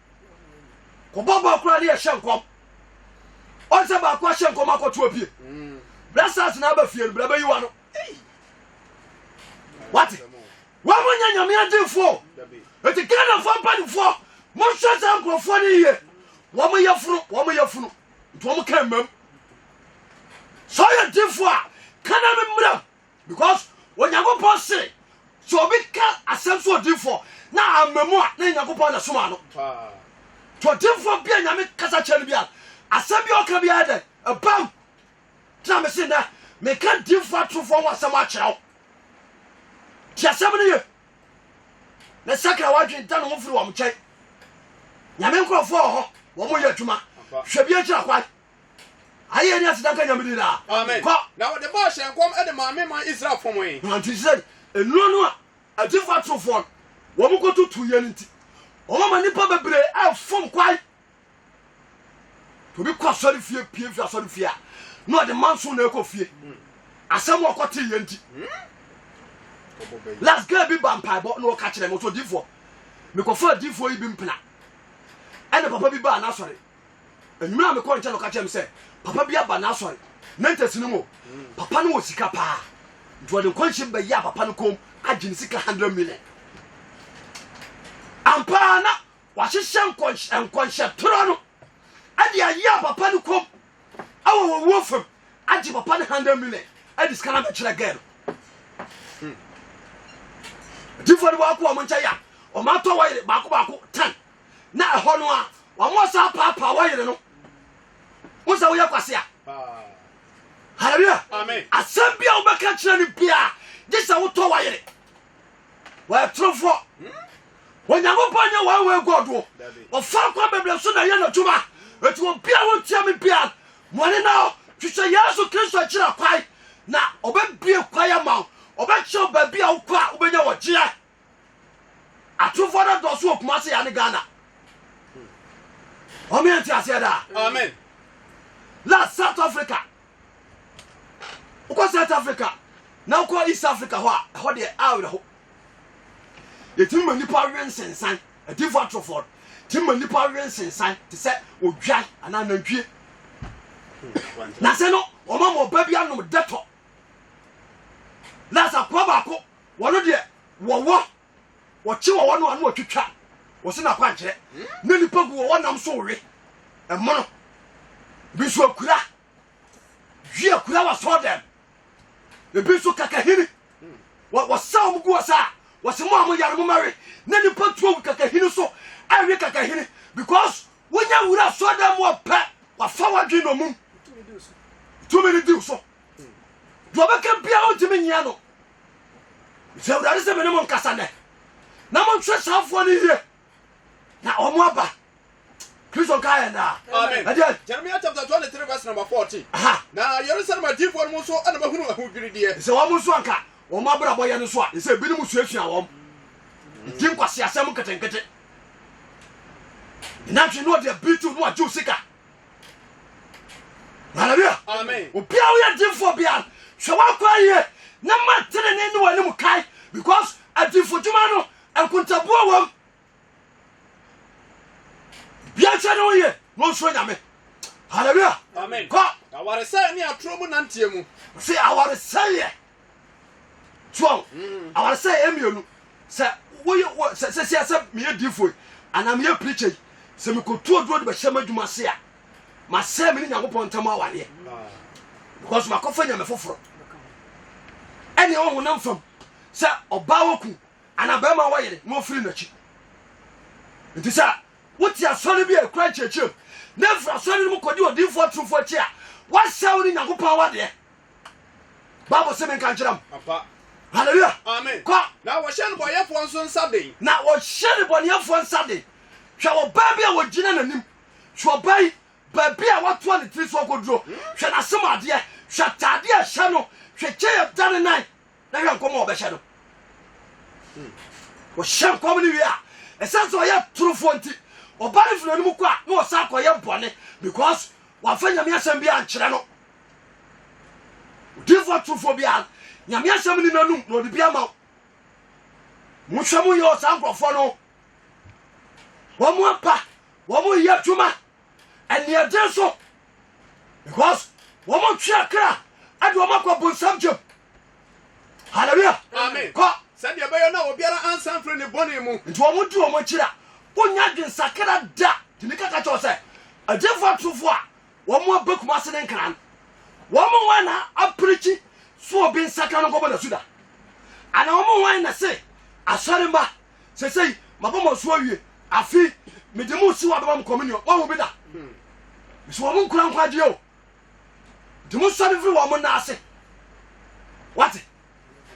kɔbɔ bɔɔl koraa ne yɛhyɛ nkɔm ɔn sɛ baako ahyɛ nkɔm akɔto apue mm. bra sars na aba fie no bra bɛyi wa no wate wɔn mo nyɛ nyame adefoɔ ɛti ghanafoɔ mpanimfoɔ monhwɛ saa nkurɔfoɔ no yie wɔn yɛ funu wɔn yɛ funu nti wɔn ka mmam sɛ ɔyɛ defoɔ a kana me mmram because onyankopɔn se sɛ obi ka asɛm so odinfoɔ na ama mu a na nyankopɔn na soma no nti odinfoɔ bia nyame kasa kyerɛ no bia asɛm bi ɔka biara dɛ ɛbam tena mese nɛ meka dinfoɔ atorofoɔ ho asɛm akyerɛ wo nti asɛm no ye ne sakra wadwen da ne ho firi wɔm nkyɛn nyame nkurɔfoɔ wɔ hɔ wɔn yɛ adwuma hwɛ bi akyira kwae ayɛ ni aseda nka nyame di daa amen kɔ na wɔde baa hyɛ nkɔm ɛde maame man israel fɔmɔe na nti sɛ nnuro no a agyefo atorofoɔ no wɔn kɔtutu yɛ no nti wɔn ma nipa bebree ɛfom kwae tobi kɔ asɔre fie pie fi asɔre fie a na ɔde manso na ɛkɔ fie hmm. asɛm ɔkɔ te yɛ nti hmm. last girl bi ba mpaebɔ na ɔka kyerɛ mo so difoɔ mekɔfa difoɔ yi bi mpena ɛne papa bi baa n'asɔre Anwummerɛ a mekɔɔ nkyɛn no ɔka kyerɛɛ me sɛ papa bi aba n'asɔre na ntɛsi no mu papa no wɔ sika paa nti ɔde nkɔnhyem bɛyɛ a papa no kɔm agye ne sika 100 million ampaa na wahyehyɛ nkɔnhyɛ torɔ no ɛde ayɛ a papa no kɔm ɛwɔ wɔ wuo fam agye papa no 100 million ɛde sika no abɛkyerɛ gɛɛ no atifoɔ no baako wɔn nkyɛn yɛ a wɔn atɔ wɔyere baako baako tan na ɛhɔ no a wɔn san paapaa wɔn yere no wo sɛ woyɛ kwase a hallelujah asɛm bi a wobɛka kyerɛ no biaa gye sɛ wotɔ wa yere wɔatorofoɔ hmm? onyankopɔn nyɛ wɔn wɔ agɔdoɔ ɔfa kwan bebree so na ɛyɛ n'adwuma ɛti obi a wontua me biaa mɔne na hɔ hwehwɛ yesu kristo akyira kwae na ɔbɛbie kwae ama wo ɔbɛkyerɛ baabi a wokɔ a wobɛnya wɔgyeɛ Atumfoɔ no dɔɔso wɔ Kumasi ya ne Ghana. Wɔn yɛ nteaseɛ daa. Amen. La South Africa. Wokɔ South Africa na wokɔ East Africa hɔ a ɛhɔ deɛ awerɛho. Yɛtumi ma nipa we nsensan adinfo atorofoɔ tumi ma nipa we nsensan te sɛ odwan anaa nantwie. Na sɛ no wɔn ama ɔba bi anom dɛtɔ. Lasa kura baako Wɔno deɛ wɔwɔ, wɔkye wɔwɔ no a na wɔtwitwa wɔ so no akwankyerɛ, na nnipa gu wɔwɔ nam so we, ɛmono, ebi nso akura, dwi akura wɔ sɔɔ dɛm, ebi nso kakahini, wɔsa wɔn gu wɔ saa, wɔsi mo a mo yare mo mɛwe, na nnipa tuo gu kakahini so, ɛwe kakahini, because wonya wura sɔɔ dɛm wɔ pɛ, wafa wadwe na ɔmum, tumi ne diw so. deɛ ɔbɛka biara ɔntumi nyia no nti awurade sɛ mene mo nkasa nɛ na monhwɛ saafoɔ no yie na ɔmo aba kristo nka yɛ naa ɛdeɛ jeremia chapter 23 verse number 14 na yerusalem adiifoɔ no mu nso ɛna mahunu ahodwirideɛ sɛ wɔn nso anka wɔn abrabɔ yɛ no so a ɛsɛ binom suasua wɔn ɛdi nkwaseasɛm nketenkete nantwe no ɔde abiritiw no agyew sika hallelujah obi a woyɛ dimfoɔ biara sɛ woakɔ ayie na ma tenene ne w'anim kae because adimfo dwuma no nkontabuo wam bia nkyɛ ne woyɛ na ɔnsuro nyame hallelujah kɔ awaresɛe ne atorɔ mu nanteɛ mu sɛ awaresɛeɛ so awo awaresɛe mmienu sɛ woyɛ wɔ sɛ sɛsia sɛ meyɛ diifo yi anaa meyɛ pirikya yi sɛ mekotu oduro de bɛhyɛ m'adwuma ase a masɛe me ne nyankopɔn ntam awareɛ because makɔfa nyame foforɔ ɛne ɛwɔ honam fam sɛ ɔbaa wɔku anaa bɛrima wɔyere na ɔfiri n'akyi nti sɛ wote asɔre bi a ɛkura nkyerɛkyerɛm na mfiri asɔre no mu kɔdi odiifoɔ atorofo akyi a woasɛe wo ne nyankopɔn awadeɛ bible se menka nkyerɛ m halleluya amen kɔ na wɔhyɛ no bɔyɛfoɔ nso nsa den na wɔhyɛ no bɔneɛfoɔ nsa den hwɛ ɔbaa bi a wɔgyina n'anim hwɛ ɔbaa yi baabi a watoa ne tiri so akɔduro hmm? hwɛ n'asem adeɛ hwɛ ataadeɛ a ɛhyɛ no hwɛ kyɛ yɛ da ne nan na hwɛ nkɔm a ɔbɛhyɛ no hmm. wɔhyɛ nkɔm no wie a ɛsɛ sɛ ɔyɛ torofoɔ nti ɔba no firi anom kɔ a na ɔsan kɔyɛ bɔne because wafa nyame asɛm bi ankyerɛ no Odiyifoɔ atorofoɔ biara, Nyame asɛm nni n'anom na ɔde bi ama wo. Monhwɛ mo yɛ ɔsaa nkurɔfoɔ no. Wɔn apa, wɔn yɛ adwuma, ɛneɛden so. Because wɔn twe akra, ɛde wɔn akɔ bonsam gyam. Hallelujah. Amen. Kɔ. Sɛdeɛ ɛbɛyɛ na obiara ansan mfiri ne bɔne mu. Nti wɔn di wɔn akyiri a, wonya adwensakra da. Tumi kaka kyɛw sɛ, adiyifoɔ atorofoɔ a wɔn aba Kumasi ne Nkran. Wɔn mu hwan na apirikyi so obi nsakra no nkɔbɔ n'asu da? Ana wɔn mu hwan na se asɔre mma sesei mabɔ mo asu awie afi mede mo si wɔ abɛma mo communion wɔhu bi da? Mese wɔn nkura nkwagyeɛ o nti monsɔre mfiri wɔn nna ase. Wate?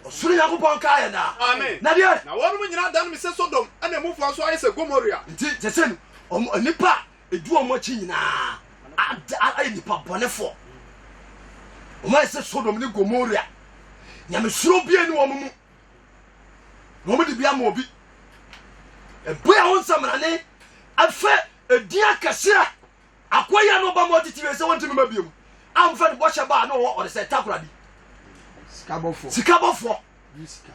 ɔsoro nyankopɔn nkaa yɛn daa amen na deɛ na wɔnom nyina adaneme sɛ sodom ɛna emufoɔ nso ayɛ sɛ gomoria nti kyɛ sɛ ɔmo nnipa a ɛdu ɔmo akyi nyinaa ayɛ nnipa bɔnefoɔ ɔmo ayɛ sɛ sodom ne gomoria nyamesuro bia ni wɔn mu na wɔn de bi ama obi ɛbɔ yɛn ho nsɛmrane afɛ edin akɛseɛ Akoa yi a na ɔba mu atitiriw sɛ wɔnte mema bio no amfa ne bɔhyɛ baa na ɔwɔ ɔde sɛ takora bi. Sikabɔfoɔ. Sikabɔfoɔ. Yi sika.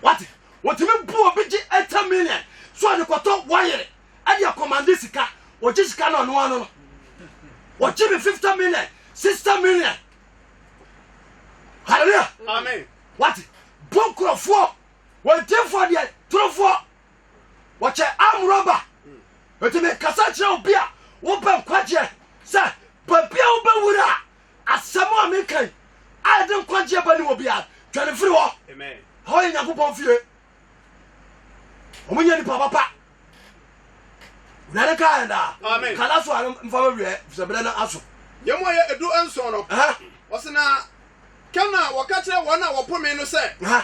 Wate, wɔtumi bu obi gye ɛtɛ million so ɔde kɔtɔ wɔyere ɛde akɔmande sika, wɔgye sika no ɔno ano no. Wɔgye me 50 million, 60 million. Hallelujah. Amen. Wate, bu nkurɔfoɔ, wɔntefoɔ deɛ, torofoɔ. wɔkyɛ amrɔba ɛti mekasa kyerɛ obi a wobɛ nkwagyeɛ sɛ babia wobɛwura a asɛm a mekan a ɛde nkwagyeɛ ba ne wɔ biara dwane firi hɔ hɔ yɛ nyankopɔn fie ɔmonyɛ nipa papa wurade ka ɛdaa kala so a mfa mawiɛ fisɛ berɛ no aso yɛ mu ɔyɛ ɛdu nson no ɔsena kɛm na wɔka kyerɛ wɔn a wɔpome no sɛ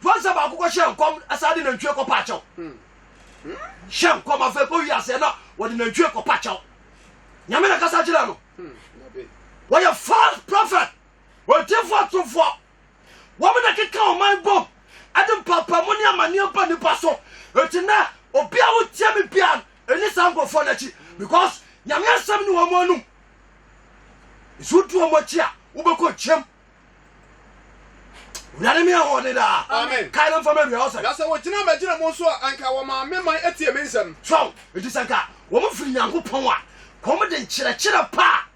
Fa nsa baako kɔhyɛ nkɔm san de nantwie kɔpa akyɛw. Hyɛ nkɔm afei kɔwie aseɛ na wɔde nantwie kɔpa kyɛw. Nyame na kasa kyerɛ no. Wɔyɛ false prophet, ɔtifoɔ atumfoɔ. Wɔn na keka ɔman bom ɛde mpapamu ne amaneɛ ba nipa so. Eti nɛ obi a wotie me bia ɛni saa nkurɔfoɔ no akyi because Nyame asɛm ne wɔn anum. Nso wodi wɔn akyi a wobɛkɔ nkyɛm. wurade mi ahoɔden daa amen kae no mfama awia ɔsɛ na sɛ wɔgyina magyina mu nso a anka wɔmaa me man atie me nsɛm so nti sɛ nka wɔn firi nyankopɔn a kɔm de nkyerɛkyerɛ pa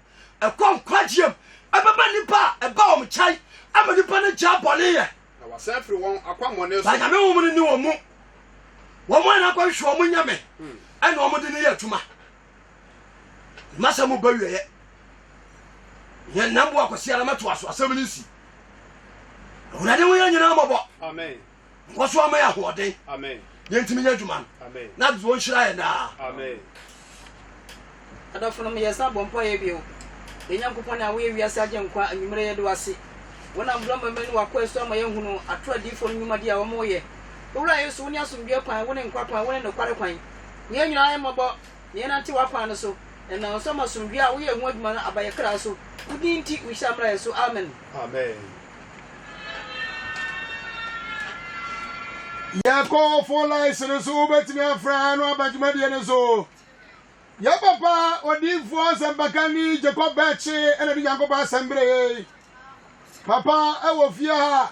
a ɛkɔ nkwagyeɛm ɛbɛba nnipa a ɛba wɔn kyɛn ama nnipa no gyaa bɔne yɛ na wɔasan firi wɔn akwammɔne so na nyame wɔn no ni wɔn mu wɔn a na akɔhwehwɛ wɔn nyame hmm. ɛna wɔn de ne yɛ adwuma M'asɛm mu bɛwieɛ. Yɛn nam boa kwasi ara mɛtoa so asɛm no nsi. Awurade ho yɛ nyinaa mɔbɔ. Amen. Nkɔ so ama yɛ ahoɔden. Amen. Yɛn ntumi nyɛ adwuma no. Amen. Na wɔn nhyira yɛn daa. Amen. Adɔfonom yɛ san bɔ mpa yɛ bio. Yɛn Nyankopɔn a woyɛ wiase agye nkwa anwummerɛ yɛ de wase. Wonam borɔ mɛmɛ ne wakoa so ama yɛ ahunu atoro adiifo no nwumadi a wɔn yɛ. Owura Yesu, wone asomdwoeɛ kwan, wone nkwa kwan, wone nokware kwan. Hu yɛn nyinaa mmɔbɔ, na yɛnnante w'akwan no so. Ɛnam wo nsa mu asomdwoe a woyɛ ho adwuma no aba yɛn kra so. Wo din nti, wo nhyira mmra yɛn so. Amen. Amen. Yɛkɔ phone lines no so, wobɛtumi afra no aba dwumadie no so. Yɛ papa odiifoɔ nsɛmpakani Jacob Bɛkye ɛna de Nyankopɔn asɛm berɛ yɛi. Papa ɛwɔ fie ha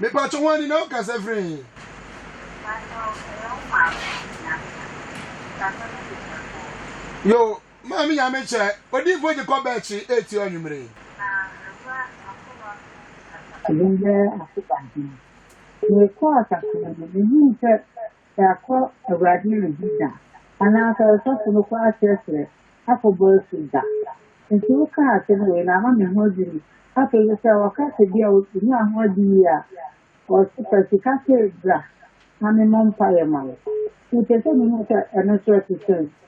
Mepatwo hwan ni na ɔkasa firi he? Yo, maame nyame kyɛ, odinfo gye kɔ bɛkye eti ɔnwumere. Ɛdin bɛɛ akoba he. Mekɔɔ kakra no, mehuu sɛ sɛ akɔ Awurade no adi da, anaa sɛ ɔsɔfo no kɔ akyerɛkyerɛ akɔbɔ asu da. Enti wokaa asɛm wei na ama me ho adwiri me. Afei nso sɛ wɔka sɛ bi a onyaa ho ade yie a, wɔse fa sika sei bra na memmɔ mpaeɛ ma wo. Mepɛ sɛ mehu sɛ ɛno nso ɛte sɛn.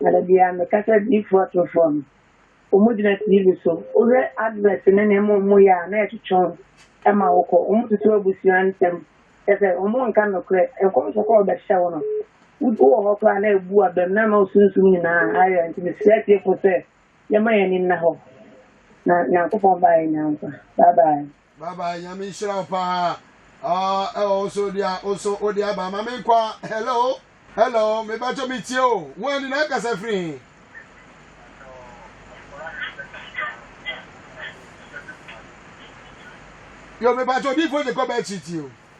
Na da biara mekasa adiyifoɔ atorofoɔ no. Wɔgyina TV so, wohwɛ advert ne nneɛma a wɔyɛ a na ɛtwetwe wo ma wokɔ. Wɔtoto abusua ntɛm, kyerɛ sɛ wɔnka nokorɛ. Nkɔmhyɛ koro a wɔbɛhyɛ wo no, wowɔ hɔ koraa na ɛbu abam na ama wo sunsum nyinaa ayera. Nti mesrɛ atiefoɔ sɛ yɛmma yɛn ani nna hɔ na Nyankopɔn ba yɛnya nkwa. Bye bye. Bye bye, Nyame nhyira wo paa. Ah, ɛwɔ wo so dia, wo so wo dia ba ma me nkwa. Hello, hello, me ba cho me tie o. Wo ani na kasa firi he. Yo me ba cho di fo je ko ba chi tie o.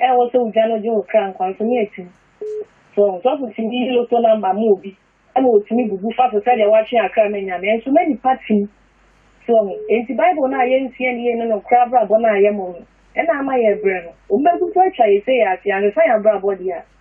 Ɛwɔ sɛ ogya no gye wo kra nkwa nso ne atiri. So woahu? Sɔfo tumi yi loto namba ma obi ma otumi bubu fa so sɛnea watwe akra no anya, nanso na nnipa te mu. So woahu? Enti Bible no a yensua no yiye ne nokware abrabɔ no a yɛmmom no na ama yɛrebrɛ no. Wɔbɛgu so atwa yɛn sɛ yɛn ase ansa yɛabrɛ abɔde a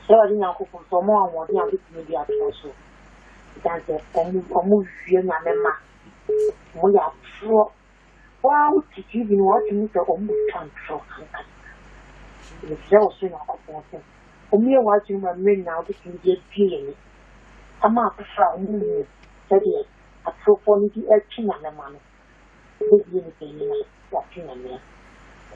Israel Nyankopɔn sɛ wɔn ahoɔden a wɔbɛtumi de atoa so. Ɛsiane sɛ wɔn wɔwia nyame ma wɔyɛ atorɔ. Waa wote TV no wate mu sɛ wɔn twa ntorɔ ankasa. Mesrɛ wo soro Nyankopɔn sɛ wɔyɛ w'adwene ma mmerɛ nyinaa wɔbɛtumi de abue yɛn ani ama afoforɔ a wɔnhunu sɛdeɛ atorofoɔ no de retwe nyame ma no. Wobɛbue no panyin a, woate Nyame a.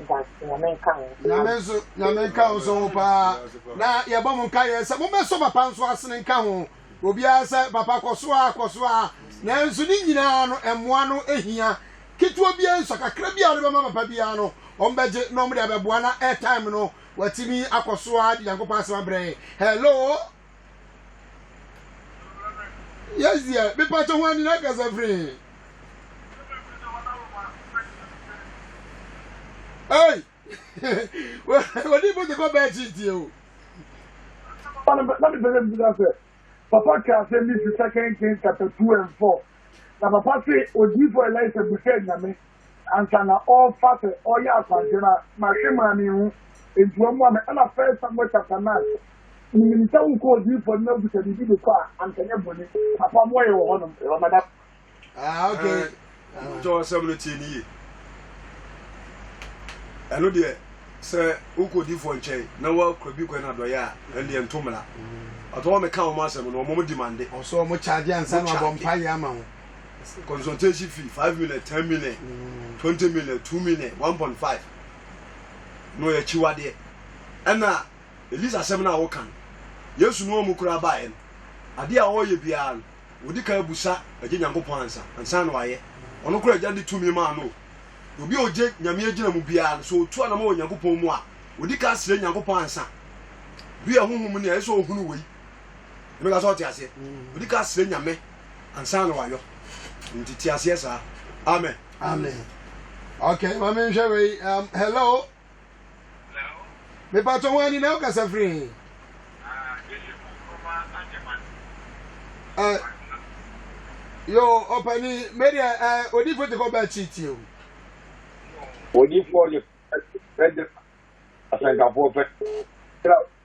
Mdaase, Nyame nka wo. Nyame nso, Nyame nka wo nso ho paa. Na yɛbɔ mo nkaeɛ sɛ mobɛsɔ papa nso asene nka ho. Obiara sɛ papa kɔso ara, kɔso ara. Nanso ne nyinaa no, mmoa no hia. Ketewa biara nsua, kakra biara a wɔde bɛma papa biara no, wɔbɛgye na wɔde abɛboa na airtime no, watumi akɔso ara de Nyankopɔn asɛm abrɛ yɛn. Hello! yes deɛ mepa kyɛ ho ani na kasa firi ei wɔde bɔ de kɔ bɛɛ kyi tie o na mepɛ sɛ bisa sɛ papa ka asɛm bi fi second king chapter two and four na papa se odiifo elisa bisa nyame ansa na ɔrefa sɛ ɔreyɛ akwankyerɛ no a, mahwe maa minhu, enti wɔmmoa me. Ɛnna First Samuel chapter nine, Minim sɛ wokɔ odiyifoɔ no abisa biribi de kɔ a, anka ɛnyɛ bɔne. Papa mmoa yɛn wɔ hɔnom, yɛwɔ madam. Ah, okay. Ah. Kyɛ ɔsɛm no tie no yie. Ɛno deɛ, sɛ wokɔ odiyifoɔ nkyɛn na woakura bi kwan adɔeɛ a, ɛno deɛ nto mmara. Ɔtɔ wɔn meka wɔn asɛm no, wɔn di mande. Ɔsɔ wɔn charge ansa na wɔabɔ mpaeɛ ama wo. consultation fee five million ten million mm. twenty million two million one point five na ɔyɛ akyiwadeɛ ɛna elisa asɛm no a woka no yesu no ɔmu koraa baeɛ no adeɛ a ɔreyɛ biara no wɔdi ka abusa agye nyankopɔn ansa ansa na wayɛ ɔno koraa agya de tumi maa no obi a ɔgye nyame agyina mu biara no sɛ ɔtu anama wɔ nyankopɔn mu a wɔdi ka asrɛ nyankopɔn ansa bi a honhom ne a ɛsɛ ɔhunu wei ɛbɛka sɛ ɔte aseɛ ɔdi ka srɛ nyame ansa na wayɔ nti te aseɛ saa amen amen okay ma menhwɛ wei um, hello mepatɔ ho ani na wokasa firi he uh, yo ɔpani medeɛ uh, odifoɔ te kɔ bɛɛ kyitie o odifoɔ de asɛnkafoɔ pɛ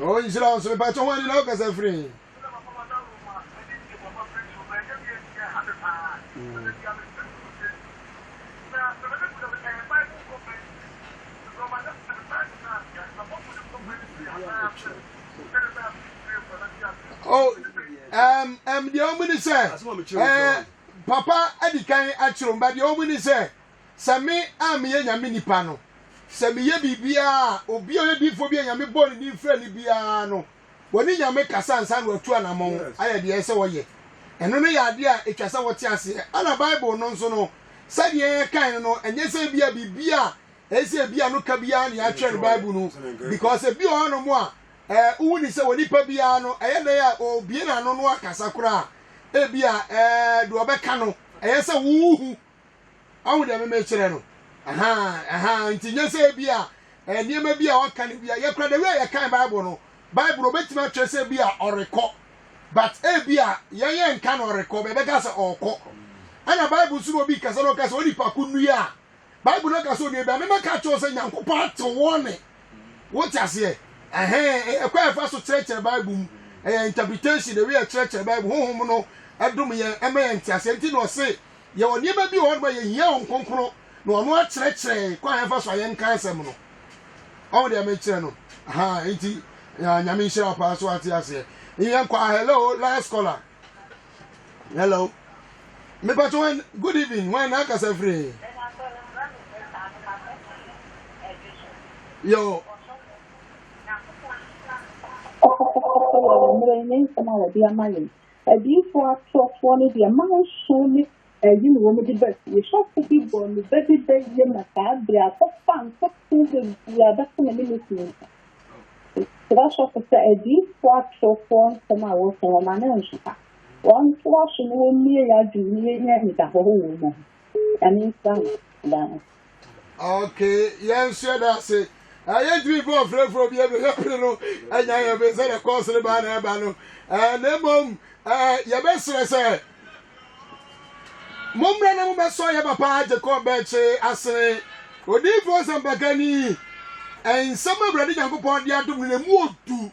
o nhyira wo nso mepakyɛ ho ani na wokasa firi he Oh, um, um, deɛ ɔmu ni sɛ, eh, papa adi kan akyerɛ ɔmu ba deɛ ɔmu ni sɛ. sɛ me a meyɛ Nyame nipa no, sɛ meyɛ biribiara a, obi a ɔyɛ diifoɔ bi a Nyame bɔɔ ne din frɛɛ no biara no, wɔne Nyame kasa ansa na wɔatu anamɔn ayɛ deɛ ɛsɛ sɛ wɔyɛ. Ɛno no yɛ adeɛ a ɛtwa sɛ wɔte aseɛ. Ɛna Bible no nso no, sɛdeɛ yɛkae no no, ɛnyɛ sɛ ebia biribi a ɛyɛ sɛ ebia no ka biara na yɛatwerɛ no Bible no mu. Because ebi wɔ hɔnom a, ɛɛ, wohu ne sɛ onipa biara no, ɛyɛ dɛn a ɔrebue n'ano no akasa koraa a, ebia ɛɛ, deɛ ɔbɛka no, ɛyɛ sɛ wohu. Ahu deɛ me mekyerɛ no? Ahaa, ahaa, nti nyɛ sɛ bi a eh, nneɛma bi a waka no bi a yɛkora da wi a yɛkan Bible no, Bible obɛtumi atwerɛ sɛ bi a ɔrekɔ, but eh, bi a yɛn yɛn nka no ɔrekɔ, bɛbɛka sɛ ɔrekɔ. Ɛna Bible nso na obi kasa na ɔka sɛ onipa ko nnua a, Bible no aka sɛ onua bi a memɛka kyerɛw sɛ Nyankopɔn atew wɔn ne. Wote aseɛ? Ɛhɛn, ɛyɛ kɔ a ɛfa so kyerɛkyerɛ Bible mu. Ɛyɛ interpretation, the way ɛkyerɛkyerɛ Bible. Honhom no ɛdom yɛn, ɛma yɛn nteaseɛ. Nti na ɔse, Yɛwɔ nneɛma bi wɔ hɔnom a yɛhia wɔn kronkron na wɔn akyerɛkyerɛ yɛn kwan a yɛmfa so a yɛnka asɛm no. Ɔho deɛ mekyerɛ no ahaa nti ah, nyame nhyira paa so ate aseɛ. Yɛn kɔ ah, hello last caller. Hello. Mepatɔ wan good evening wan na akasa firi. Yo. Ɔkɔkɔkɔkɔ wɔ mmerɛ ne nsɛm a wɔde ama yɛn. Adiyifoɔ atorɔfoɔ no deɛ manso ne ayi na wɔde ba fie. Sɔfo bi bɔɔ me ba bi bɛ yie na saa berɛ a kɔfaa ntotoɔ bebree a bɛto no ne ne kunu nsa. Mesrɛ sɔfo sɛ adiyifoɔ atorɔfoɔ nsɛm a wɔka yi wɔn ano nsopa. Wɔn toa so na wɔn mie yɛ adwene na yɛnya anidahɔ wɔ wɔn mu ho. Nyame nhyira mo daa. ok yɛn so yɛda ase ɛyɛ ntumi fɔ ɔfrɛfrɛ bi ɛbɛ yɛpere no ɛnya yɛ bɛ sɛ na kɔɔse no baa na ɛba no ɛɛ na mmom ɛɛ yɛbɛsrɛ sɛ mommra na mobɛsɔ yɛ papa gyekɔ bɛkye asene odiifoɔ sɛmpakani nsɛm awurade nyankopɔn de adom no na mu odu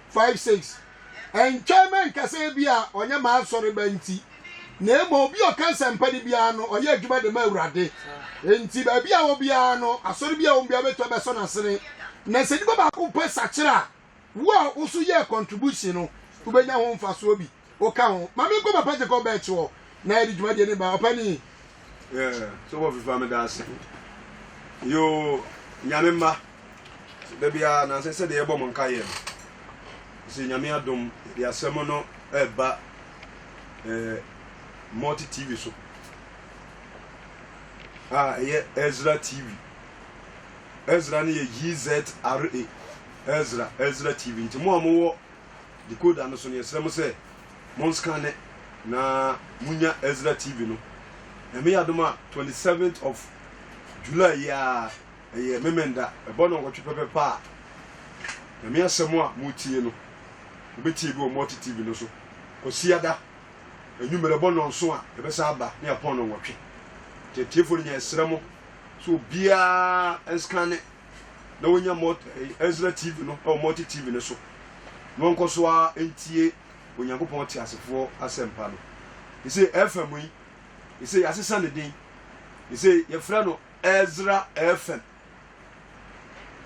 5 6 ɛntwɛn mɛ nkasa ebi a ɔnyɛ maa asɔre ba nti na emu obi ɔka nsɛmpa de biara no ɔyɛ adwuma de ma awurade nti baabi a wɔ biara no asɔre bi a wɔn biara bɛtɔ bɛsɔ n'asene na sɛ nipa baako pɛ sakyera a wo a woso yɛ contribution no wobɛnya ho mfasoɔ bi wo ka ho ma me nkɔ papa gye kɔ bɛɛkye wɔ na yɛde dwumadie ne ba ɔpa ni. sɛ wɔ fifa me da ase yoo nyame mma da biara nansɛ sɛdeɛ yɛbɔ mo nka yɛ no sɛ nyame adom yɛde asɛm no ɛba eh, multi tv so a ɛyɛ ezra tv ezra no yɛ yzra ezra ezra tv nti mo a mowɔ decoder no so no, yɛsrɛ mo sɛ monskane na monya Ezra TV no. Nyame yɛ adom a, 27th of July yi ara, ɛyɛ Memenda, ɛbɔ nnɔnkɔtwe pɛpɛpɛ a, Nyame asɛm a motie no, mobɛtie bi wɔ Multi TV no so. Kwasiada, anwummerɛ bɔ nnɔnson a, yɛbɛsan aba ne apɔn nnɔnkɔtwe. Nti atiefoɔ no nyɛ yɛsrɛ mo sɛ obiara nskane na wɔnya mult eh, Ezra TV no ɛwɔ Multi TV no so na wɔnkɔ so ara ntie Onyankopɔn teasefoɔ asɛmpa no. Ɛsɛ FM yi ɛsɛ yɛasesa ne din ɛsɛ yɛfrɛ no Ezra FM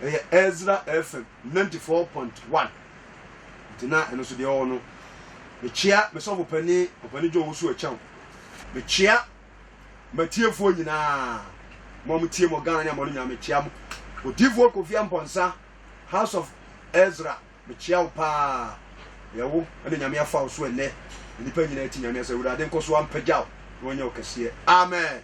ɛyɛ Ezra FM 94.1 nti na ɛno so deɛ ɔwɔ no mekyea mesɔfo pani ɔpani John Wusu Akyɛw mekyea M'atiefoɔ nyinaa, mo a motie mo Ghana ne amɔno nyinaa, mekyea mo. Odiyifoɔ Kofi Amponsah, House of Ezra, mekyea wo paa. Ɛyɛ wo na Nyame afa wo so ɛnnɛ. Nnipa nyinaa ti Nyame asɛ, Awurade nkɔ so ampagya wo na ɔnyɛ wo kɛseɛ. Amen.